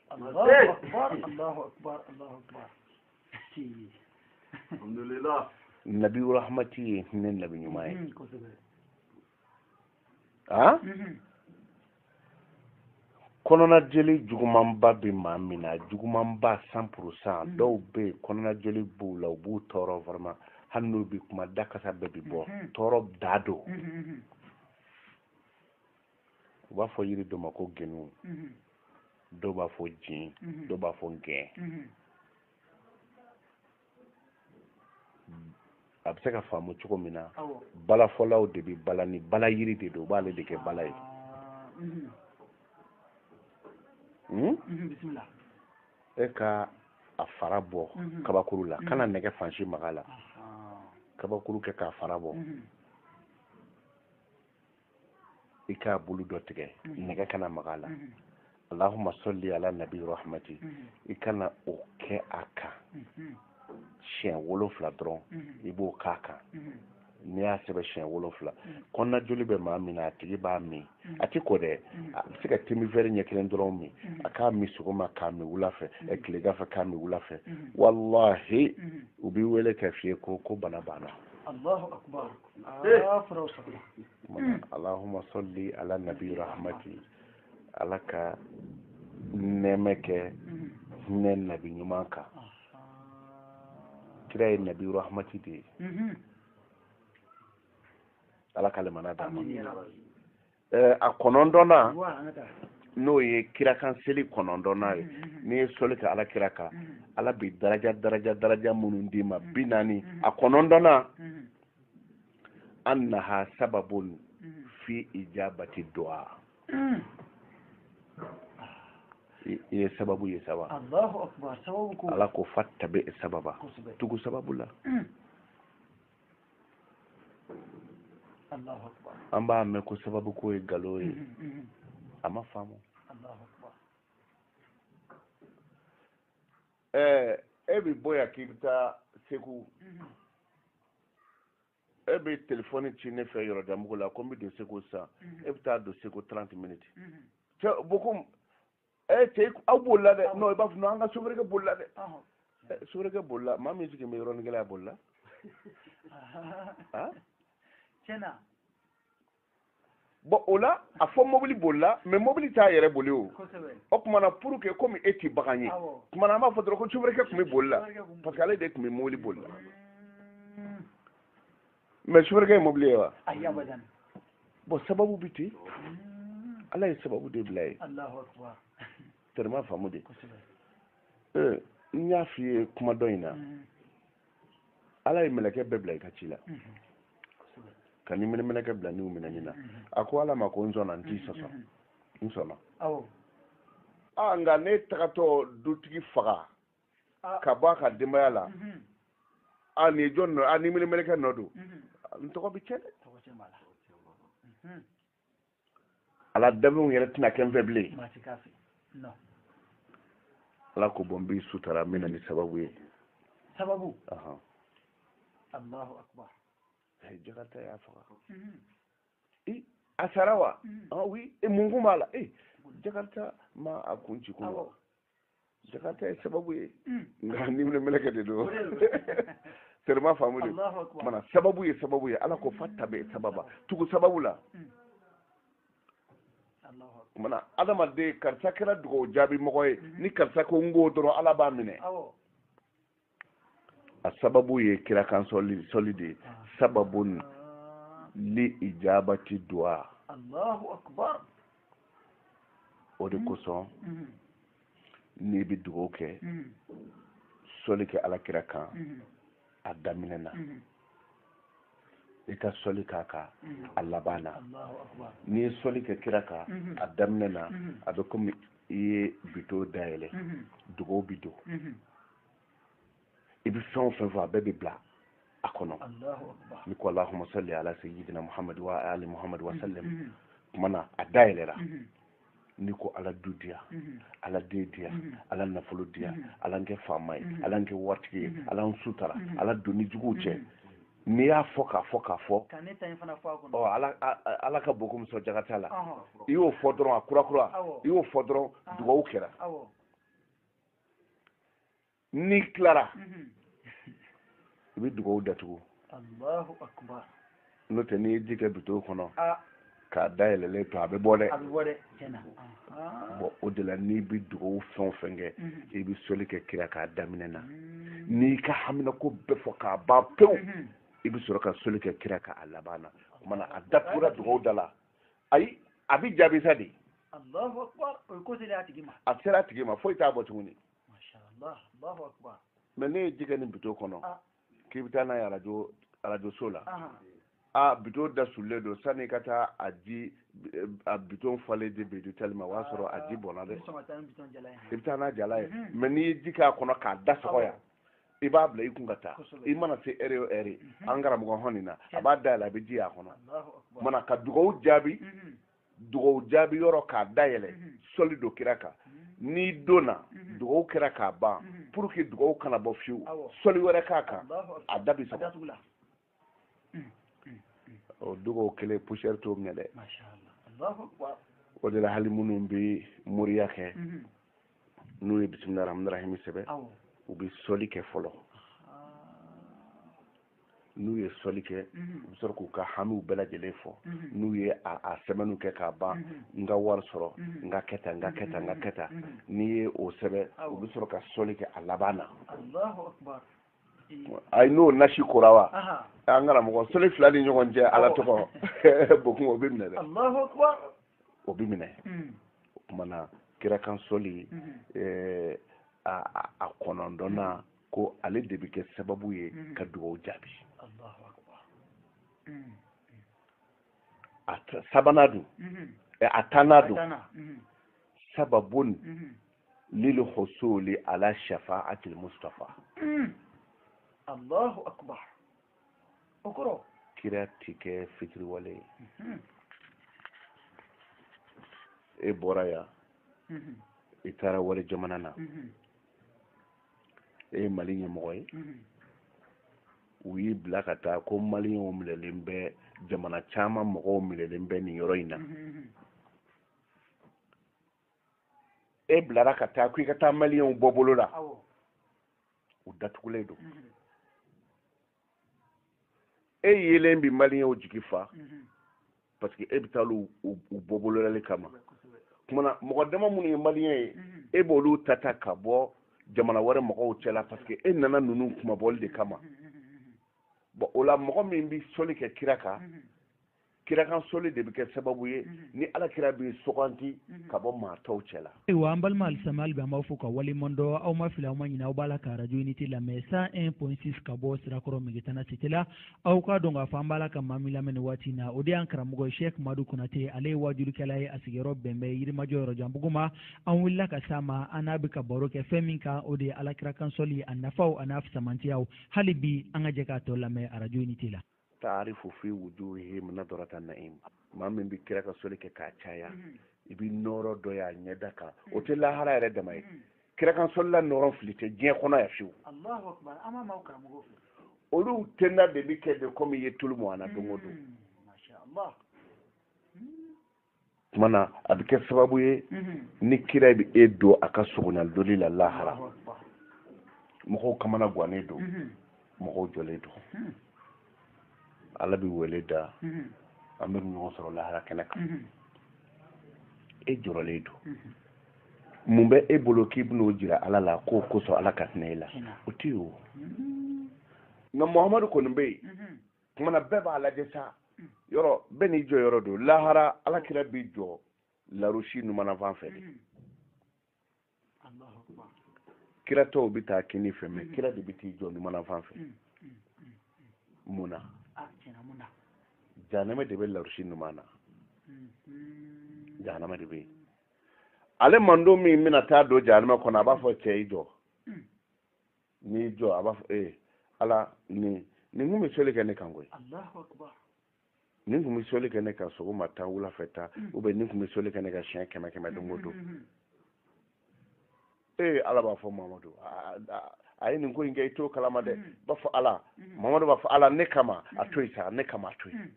B: alhamdulillah
A: nabi rahmati ye hinɛ nabi ɲuman ye a kɔnɔna jeli jugumanba bɛ maa min na jugumanba cent pour cent mm. dɔw bɛ yen kɔnɔna jeli b'u la o b'u tɔɔrɔ vraiment hali n'u bɛ kuma da kasa bɛɛ bɛ bɔ mm-hmm. tɔɔrɔ dan don mm-hmm, mm-hmm. u b'a fɔ yiri dɔ ma ko genu mhm. dɔw b'a fɔ jin mhm. dɔw b'a fɔ gɛn mhm. a bɛ se ka faamu cogo min na balafɔlaw de bɛ bala ni bala yiri de don u b'ale de kɛ bala
B: ye ah, hmm? e
A: ka a fara bɔ kabakuru la kana nɛgɛ fan si mag'a la kabakuru kɛ k'a fara bɔ i k'a bulu dɔ tigɛ mhm. nɛgɛ kana maga a la mhm. allahumma salli ala nabi rahmati mhm. i ka na o kɛ a kan siɲɛ wolonfila dɔrɔn i b'o k'a kan n'i y'a sɛbɛn siɲɛ wolonfila kɔnɔna joli bɛ maa min na a tigi b'a min a t'i ko dɛ a bɛ se ka te min vɛri ɲɛ kelen dɔrɔn min a k'a min sɔgɔma k'a min wula fɛ tilegan fɛ k'a min wula fɛ walahi u b'i wele k'a f'i ye ko ko bana banna alahuma sɔli ala nabi rahmati ala ka nɛɛmɛ kɛ hinɛ nabi ɲuman kan kira ye nabi rahmati de ye ala ka lemana d'a ma eh, a kɔnɔntɔnnan n'o ye kira kan seli kɔnɔntɔnnan ye n'i ye sɔli kɛ ala kira kan ala bɛ daraja daraja daraja minnu d'i ma bi naani a kɔnɔntɔnnan annaha sababun fi ijabati du'a ye sababu ye
B: sababu ala ko fattabi
A: sababa tugu sababu la
B: an b'a mɛn ko
A: sababu ko ye galo ye mm-hmm, mm-hmm. a ma faamu ɛɛ e bɛ bɔ yan k'i bɛ taa segu mm-hmm. e bɛ telefɔni ci ne fɛ yɔrɔjanbugu la ko n bɛ don segu sisan e bɛ taa don segu trente minutes cɛ bokum ɛ cɛ aw bolila dɛ non i b'a fɔ non an ka sofɛrikɛ bolila dɛ sofɛrikɛ bolila maa min sigilen bɛ yɔrɔnin kelen a bolila
B: tiɲɛ
A: na bon o la a fɔ mobili bolila mais mobili t'a yɛrɛ boli o o tuma
B: na pour
A: que komi e ti bagan ye tuma na an b'a fɔ dɔrɔn ko sofɛrikɛ tun bɛ boli la parce que ale de tun bɛ mobili boli la mais sofɛrikɛ ye mobili ye wa ayi
B: abadan bon
A: sababu bɛ ten ala ye sababu de bila
B: ye
A: tellement faamu de n y'a f'i ye kuma dɔ in na ala ye mɛlɛkɛ bɛɛ bila i ka ci la ka ni minɛ mɛlɛkɛ bila niw minɛni na a ko ala ma ko n sɔnna n t'i sɔsɔ n sɔnna a nka ne tagatɔ dutigi faga ah. ka bɔ a ka denbaya la mhm. a nin ye jɔn nɔ a ni minɛ mɛlɛkɛ nɔ don mhm. n tɔgɔ bɛ tiɲɛ dɛ mhm. ala danfɛnw yɛrɛ tɛna kɛ n fɛ bilen ala ko bon n b'i sutara n bɛ na ni sababu ye
B: sababu alahu akbar
A: jakarta y'a faga a sara wa ah oui mun kun b'a la ee jakarta ma a kun ci kunun wa jakarta ye sababu ye hmm. nka ni minɛ mɛlɛkɛ de don seulement faamu de mana sababu ye sababu ye ala ko fattabi sababa tugu sababu la hmm. mana adamaden karisa kɛra dugawu jaabi mɔgɔ ye hmm. ni karisa ko n k'o dɔrɔn ala b'a minɛ a sababu ye kira kan sɔli de ye sababun li ijabati duwa allahu akbar o de kosɔn n'i bɛ dugawu kɛ sɔli kɛ ala kira kan a daminɛ na i ka sɔli k'a kan a laban na n'i ye sɔli kɛ kira kan a daminɛ na a bɛ komi i ye bito dayɛlɛ dugawu bi don i bɛ fɛn o fɛn fɔ a bɛɛ bɛ bila a kɔnɔ n'i ko alahuma salli ala sayyidina muhammad wa ali muhammad wa sallam mm-hmm. kuma na a da yɛlɛra mm-hmm. n'i ko ala du diya mm-hmm. ala den diya ala nafolo diya ala n kɛ faama ye ala n kɛ waritigi ye ala n sutara ala doni juguw cɛ n'i y'a fɔ k'a fɔ k'a fɔ ala ka bon komi sɔn jaga t'a la i y'o fɔ dɔrɔn a kurakura i y'o fɔ dɔrɔn dugawu kɛra n'i tilara i bɛ dugawu
B: datugu allahu akbar n'o tɛ n'i
A: ye ji kɛ bito kɔnɔ k'a da yɛlɛlen to a bɛ bɔn dɛ bon o de la n'i bɛ dugawu fɛn o fɛn kɛ i bɛ sɔli kɛ kira kan a daminɛ na n'i ka haminanko bɛɛ fɔ k'a ban pewu i bɛ sɔrɔ ka sɔli kɛ kira kan a laban na o kumana a datugura dugawu da la ayi a bɛ jaabi sa
B: dɛ allahu akbar a sera a tigi ma foyi
A: t'a bɔ
B: tuguni masha allah allahu akbar mais n'e ye ji kɛ nin
A: bito kɔnɔ ah. k'i bɛ taa n'a ye arajo arajoso la a bito da sulen don sani ka taa a ji a bito falen de bɛ di tali ma o y'a sɔrɔ a ji bɔnna dɛ i bɛ taa n'a jalan ye mais n'i ye ji k'a kɔnɔ k'a da sɔgɔ yan i b'a bila i kun ka taa i mana se ɛri o ɛri mhm. an karamɔgɔ hɔn nin na a b'a dayɛlɛ a bɛ ji y'a kɔnɔ mana ka dugawu jaabi mhm. dugawu jaabi yɔrɔ k'a dayɛlɛ mhm. sɔli don kira kan n'i donna dugawu kɛra k'a ban pour que dugawu kana bɔ fiyewu sɔli wɛrɛ k'a kan a da bi sɔgɔ o dugawu kelen poussière t'o minɛ dɛ o de la hali minnu bɛ moriya kɛ n'u ye bisimila rahmani rahimi sɛbɛn u bɛ sɔli kɛ fɔlɔ n'u ye sɔli kɛ u bɛ sɔrɔ k'u ka hamiw bɛɛ lajɛlen fɔ n'u ye a sɛbɛnniw kɛ k'a ban n ka wari sɔrɔ n ka kɛ tan n ka kɛ tan n ka kɛ tan n'i ye o sɛbɛn u bɛ sɔrɔ ka sɔli kɛ a laban na ayi n'o nasi kora wa an karamɔgɔ sɔli fila ni ɲɔgɔn cɛ ala tɔgɔ b'o kun o bɛ minɛ dɛ o bɛ minɛ hmm. o kumana kira kan sɔli hmm. eh, a kɔnɔntɔnnan hmm. ko ale de bɛ kɛ sababu ye ka dugawu jaabi a sabanan dun eh, a tannan dun sababun lil husuli ala shafa'atil mustafa hmm.
B: allahu akbar o kɔrɔ kira ti kɛ
A: fitiriwale ye hmm. e bɔra yan hmm. i taara wali jamana na e ye mali ɲɛmɔgɔ ye u y'i bila ka taa ko maliyɛnw minɛlen bɛ jamana caman mɔgɔw minɛlen bɛ nin yɔrɔ in na e bilara ka taa ko i ka taa maliyɛnw bɔ bolo la u datugulen don mhm. e yelen bi maliyɛnw jigi fa mhm. parce que e bɛ taa u bɔ bololali kama kumana mɔgɔ dama minnu ye maliyɛn ye mhm. e b'olu ta ta ka bɔ jamana wɛrɛ mɔgɔw cɛla parce que e nana ninnu kunmabɔli de kama bɔn o la mɔgɔ min bɛ soli kɛ kira kan kira kan soli de bɛ kɛ sababu ye mhm. ni ala kira b'e sugandi mhm. ka bɔ maa tɔw cɛ la ayiwa an balima
C: alisilamɛ hali bi an b'aw fo ka waleɲuman dɔn aw ma fili aw ma ɲinɛ aw b'a la ka arajo unité lamɛn 101.6 ka bɔ sirakɔrɔ megetana cité la aw k'a dɔn k'a fɔ an b'a la ka maa min lamɛn nin waati in na o de y'an karamɔgɔ sheikh madu konate ale ye waajulikɛla ye a sigiyɔrɔ bɛn bɛ yirimajɔ yɔrɔjanbugu ma an wulila ka s'a ma an n'a bɛ ka baro kɛ fɛn min kan o de ye ala kira kan soli a nafaw a n'a fisamantiyaw hali bi an ka jɛ k'a tɔ lamɛn arajo unité la taarifu
A: fi wujuhihim nadrata na'im maa min bɛ kira kan soli kɛ k'a caya mm-hmm. i bɛ nɔɔrɔ dɔ y'a ɲɛda kan o mm-hmm. tɛ lahara yɛrɛ dama ye mm-hmm. kira kan solila nɔɔrɔ fili tɛ diɲɛ kɔnɔ yan fiyewu olu tenda de bɛ kɛ de komi i ye tulu mɔn a la don o don kumana a bɛ kɛ sababu ye mhm. ni kira bɛ e don a ka solonali deli la lahara mɔgɔw kamana gannen don mhm. mɔgɔw jɔlen don mhm. ala bɛ wele da an bɛ ɲɔgɔn sɔrɔ lahara kɛnɛ kan e jɔrɔlen don mun bɛ e bolo k'i bɛn'o jira ala la k'o kosɔn ala ka hinɛ e la o tɛ yen o nka muhamadu kɔni bɛ yen kumana bɛɛ b'a lajɛ sa yɔrɔ bɛɛ n'i jɔ yɔrɔ don lahara ala kira b'i jɔ larusi numanafan fɛ de kira tɔw bɛ taa kini fɛ mais kira de bɛ t'i jɔ numanafan fɛ mun na jahanama de bɛ larusi numan na jahanama de bɛ yen ale mantɔn min bɛna taa don jahanama kɔnɔ a b'a fɔ cɛ i jɔ n'i jɔ a b'a fɔ ee ala nin nin kun bɛ soli kɛ ne kan koyi nin kun bɛ soli kɛ ne kan sɔgɔma tan wula fɛ tan mm. ou bien nin kun bɛ soli kɛ ne kan siɲɛ kɛmɛ kɛmɛ don o don mm, mm, ee ala b'a fɔ mamadu a ye nin ko in kɛ i t'o kalama dɛ b'a fɔ ala mamadu b'a fɔ ala ne kama a to yen sa ne kama a to yen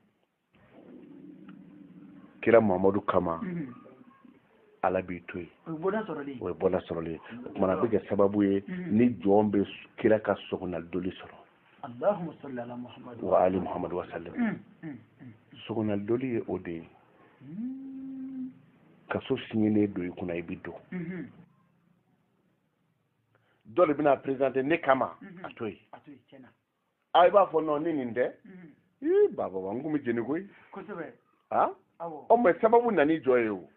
A: kira mamadu kama mhm. ala b'i to yen o ye bɔda sɔrɔlen o ye tumana a bɛ kɛ sababu ye mhm. ni jɔn bɛ kira ka sɔgɔnalidoli sɔrɔ wa ali muhamadu wasalim mhm, sɔgɔnalidoli ye o de ye kaso siɲɛnen don i kunna i bɛ don dɔ de bɛna perezante ne kama a to yen a i b'a fɔ non ni nin tɛ ii bababa n kun bɛ jeni koyi a ɔ mɛ sababu nani jɔ ye o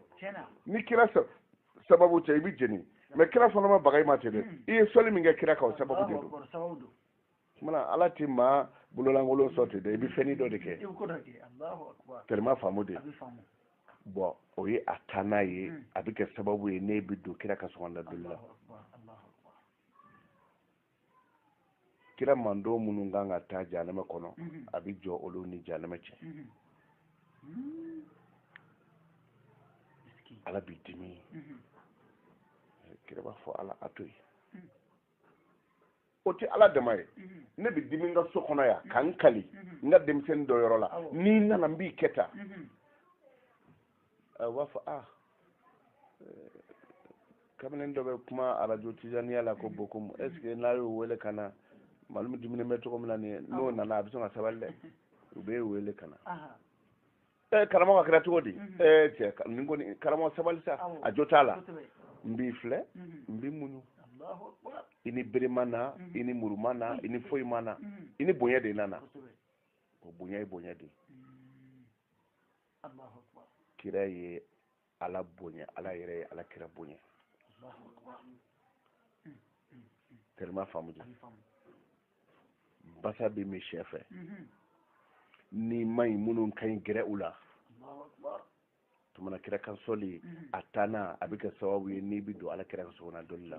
A: ni kira sababu cɛ i bɛ jeni mɛ kira fana ma baga i ma ten dɛ i ye sɔli min kɛ kira kan o sababu de don kumana ala ti maa bololankolon sɔn ten dɛ i bɛ fɛnni dɔ de kɛ tɛlima faamu de bɔn o ye a taa n'a ye a bɛ kɛ sababu ye n'i bɛ don kira ka sɔgɔnda doli la kira mantɔn minnu kan ka taa jahanama kɔnɔ mhm. a bɛ jɔ olu ni jahanama cɛ mhm. Mhm. ala bɛ dimi kira b'a fɔ ala a to yen o tɛ ala dama ye ne bɛ dimi n ka so kɔnɔ yan ka n kali n ka denmisɛnnin dɔ yɔrɔ la n'i nana n b'i kɛ tan a b'a fɔ a kamalen dɔ bɛ kuma arajo tizaniya la ko bokumu est ce que n'a y'o wele ka na malimu diminen bɛ cogo min na nin ye n'o nana a bɛ sɔn ka sabali dɛ o bɛ wele ka na ɛ karamɔgɔ k'a kɛra cogo di ɛ cɛ nin kɔni karamɔgɔ sabali sa a jo t'a la n b'i filɛ n b'i muɲu i ni bere ma na i ni muru ma na i ni foyi ma na i ni bonya de nana o bonya ye bonya de ye kira ye ala bonya ala yɛrɛ ye ala kira bonya tellement faamu de basa bɛ min sɛ fɛ ni ma ɲi minnu ka ɲi gɛrɛ u la tumana kira kan sɔli a tanna a bɛ kɛ sababu ye n'i bɛ don ala kira ka sɔgɔna donni la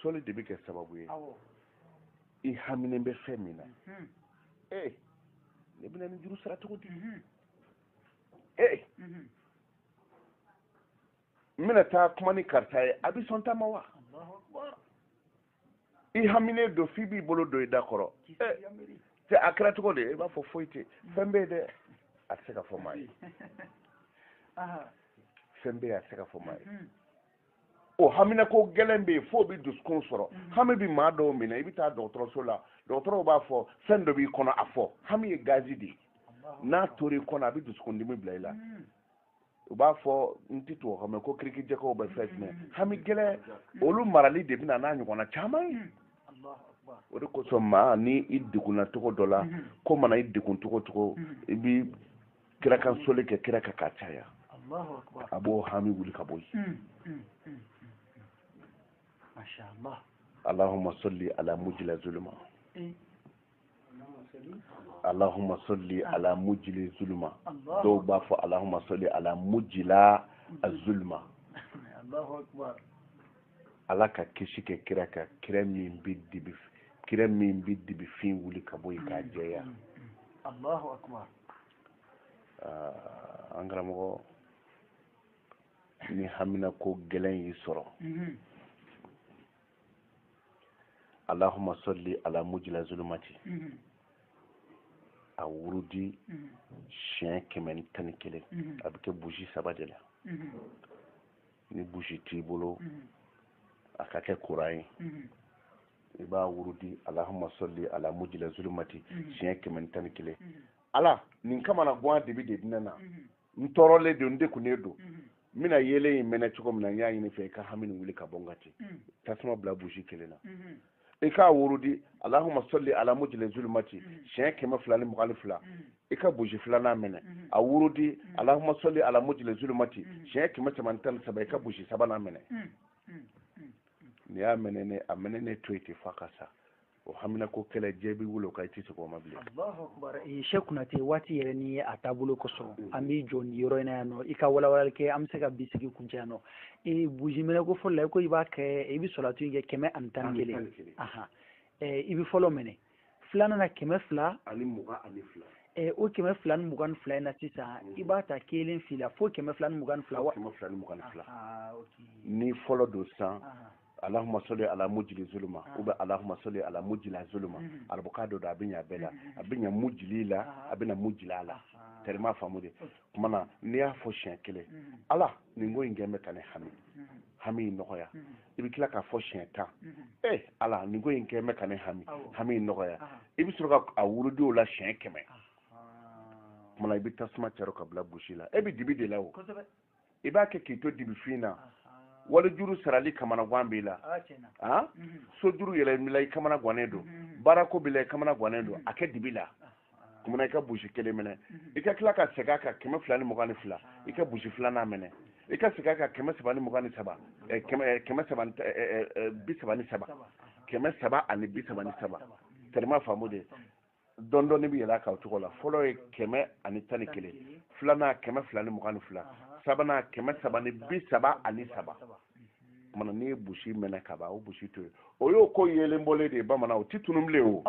A: sɔli de bɛ kɛ sababu ye i haminen bɛ fɛn min na mhm. ee ne bɛna nin juru sara cogo di mhm. ee mhm. n bɛna taa kuma ni karisa ye a bɛ sɔn n ta ma wa i haminen don f'i b'i bolo don i da kɔrɔ cɛ a kɛra cogo di i b'a fɔ foyi tɛ fɛn bɛ yen dɛ a tɛ se ka fɔ maa ye fɛn bɛ yen a tɛ se ka fɔ maa ye o haminako gɛlɛn bɛ yen f'o bɛ dusukun sɔrɔ mm. hami bɛ maa dɔw minɛ i bɛ taa dɔgɔtɔrɔso la dɔgɔtɔrɔw b'a fɔ fɛn dɔ b'i kɔnɔ a fɔ hami ye gazi de ye n'a tora i kɔnɔ a bɛ dusukundimi bila i la mm. u b'a fɔ n tɛ tubabu kan mɛn ko crise cardiaque ou bien fɛn jumɛn mm. hami gɛlɛn olu marali de bɛna n'a ɲɔgɔnna caman ye o de kosɔn maa ni i degunna cogo dɔ la ko mana i degun cogo cogo i bɛ kira kan soli kɛ kira kan k'a caya a b'o hami wuli ka bɔ yen allahumma salli ala mujila zuluma allahumma salli ala mujili zuluma dɔw b'a fɔ allahumma salli ala mujila azuluma ala ka kisi kɛ kira kan kira min bɛ dibi kira min bɛ dibi fin wuli ka bɔ yen k'a jɛya ah, an karamɔgɔ ni hamina ko gɛlɛn y'i sɔrɔ mhm. allahumma salli ala mujila zulumati mhm. a wurudi mhm. siɲɛ kɛmɛ ni tan ni kelen a bɛ kɛ buji saba de la ni buji t'i bolo a ka kɛ kuran ye i b'a wurudi alahuma sɔli ala mujila zulumati mhm. siɲɛ kɛmɛ ni tan ni kelen mhm. ala nin kamanagan dibi de dina na mhm. n tɔɔrɔlen don n degunnen don n bɛna yeelen in mɛnɛ cogo min na n y'a ɲini i fɛ i ka hami nin wuli ka bɔ n kan ten tasuma bila buji kelen na i k'a wurudi alahuma sɔli ala mujila zulumati siɲɛ kɛmɛ fila ni mugan ni fila i ka buji filanan mɛnɛ a wurudi alahuma sɔli ala mujila zulumati siɲɛ kɛmɛ saba ni tan ni saba i ka buji sabanan mɛnɛ n'i y'a mɛnɛ a mɛnɛnen to yen ten f'a ka sa o haminako kɛlɛ jɛ b'i wolo ka i tɛ segin o ma bilen. allahu akbar
B: sɛki kunatɛ waati yɛrɛ ni ee a taabolo kosɔn mm. an b'i jɔ nin yɔrɔ in na yan nɔ i ka walawalali kɛ an bɛ se ka bi sigi kuncɛ yan nɔ ee buji mɛnɛ ko fɔlɔ la i ko i b'a kɛ i bɛ sɔlatu in kɛ kɛmɛ ani tan ni kelen i bɛ fɔlɔ mɛnɛ. filanan na kɛmɛ fila ani mugan
A: ani fila eh, o kɛmɛ fila
B: ni mugan ni fila in na sisan mm. i b'a ta kelen fila fo kɛmɛ fila ni mugan ni fila wa kɛmɛ fila ni mugan ni fila
A: ni fɔlɔ don san alahuma sɔli ala mujili zuluma ou bien alahuma sɔli ala mujila zuluma mm-hmm. arabukan dɔ don a bɛ ɲa bɛɛ la mm-hmm. a bɛ ɲa mujili la a bɛ ɲa mujila la terima faamu dɛ kuma na n'i y'a fɔ siɲɛ kelen mm-hmm. ala ne ko i n dɛmɛ ka ne hami hami nɔgɔya i bɛ tila k'a fɔ siɲɛ tan ee eh, ala ne ko i n dɛmɛ ka ne hami hami in nɔgɔya i bɛ sɔrɔ k'a wurudi o la siɲɛ kɛmɛ kuma na i bɛ tasuma caro k'a bila buji la e bɛ dibi de la o i b'a kɛ k'i to dibifin na wali juru sarali kamanagan b'i la so juru yɛrɛ b'i la i kamana gannen don baarako b'i la i kamana gannen don a kɛ dibi la kuma na i ka busi kelen mɛnɛ i ka tila ka segin a kan kɛmɛ fila ni mugan ni fila i ka busi filanan mɛnɛ i ka segin a kan kɛmɛ saba ni mugan ni saba kɛmɛ saba bi saba ni saba kɛmɛ saba ani bi saba ni saba tɛrɛma faamu de dɔɔni dɔɔni bɛ yɛlɛn a kan o cogo la fɔlɔ ye kɛmɛ ani tan ni kelen filanan kɛmɛ fila ni mugan ni fila sabanan kɛmɛ saba ni bi saba ani saba mana n'i ye busi mɛnɛ ka ban o busi to yen o y'o ko yeelen bɔlen de ye bamanan o ti tunun bilen
B: o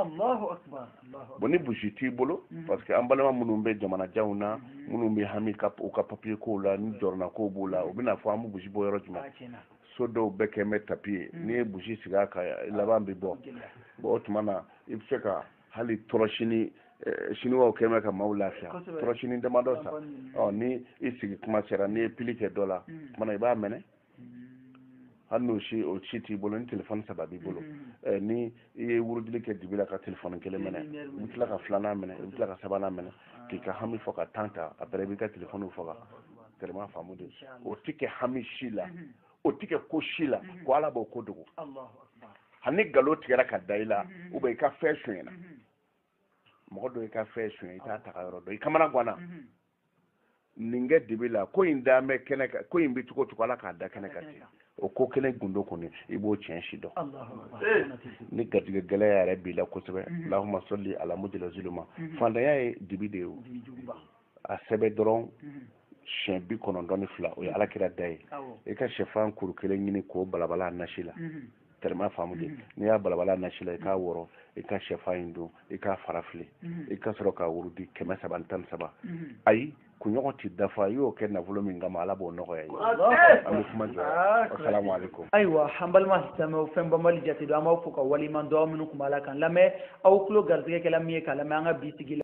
B: bon ni
A: busi t'i bolo mhm. parce que an balima minnu bɛ jamanajanw na mhm. minnu bɛ hami u ka papiye kow la ni jɔrɔna kow b'o la u bɛna fɔ an bɛ busi bɔ yɔrɔ jumɛn so dɔw bɛɛ kɛ bɛ tapi ye mhm. n'i ye busi sigi a kan laban bɛ bɔ o tuma na i bɛ se ka hali tɔrɔsini eh, siniwaw kɛ bɛ ka maaw lafiya tɔrɔsini damadɔ san ni i sigi kuma sera n'i ye pili kɛ dɔ la tuma i b'a mɛnɛ hali n'o si o si t'i bolo ni telefɔni saba b'i bolo mm-hmm. eh, ni i ye wurudili kɛ dibi la ka telefɔni kelen mɛnɛ i bɛ tila ka filanan mɛnɛ i bɛ tila ka sabanan mɛnɛ ah. k'i ka hami fɔ ka tan ta après i b'i ka telefɔniw faga tellement faamu de o tɛ kɛ hami si la mm-hmm. o tɛ kɛ ko si la mm-hmm. ko ala b'o ko dogo hali nkalon tigɛra ka da i la ou bien i ka fɛn sonyɛna mɔgɔ dɔ i ka fɛn sonyɛ i t'a tagayɔrɔ dɔn i kamana ganna nin kɛ dibi la ko in dan bɛ kɛnɛ kan ko in bɛ cogo cogo ala k'a da kɛnɛ kan ten o ko kɛnɛ gundo kɔni i b'o tiɲɛ si dɔn ni garijɛgɛ gɛlɛya yɛrɛ b'i la kosɛbɛ mhm. lahuma sɔli ala mujala zuluma mhm. fantanya ye dibi de ye o a sɛbɛ dɔrɔn mhm. siɲɛ bi kɔnɔntɔn ni fila o ye ala kira da ye i ka sɛfan kuru kelen ɲini k'o balabala a nasi la tɛrɛma faamu de mm-hmm. n'i y'a balabala nasi la i k'a wɔrɔ i ka sɛfan in dun i k'a fara fili mm-hmm. i ka sɔrɔ ka wurudi kɛmɛ saba ni tan ni saba mm-hmm. ayi kunɲɔgɔn ti dafa i y'o kɛ nafolo min kama ala b'o nɔgɔya i ye an bɛ kuma jɔ ah, asalamu aleykum ayiwa an
B: balima silamɛw fɛn banbali jate don an b'aw fo ka waleɲuman dɔn aw minnu tun b'a la k'an lamɛn aw tulo garisigɛ kɛla min ye k'a lamɛn an ka bi sigi la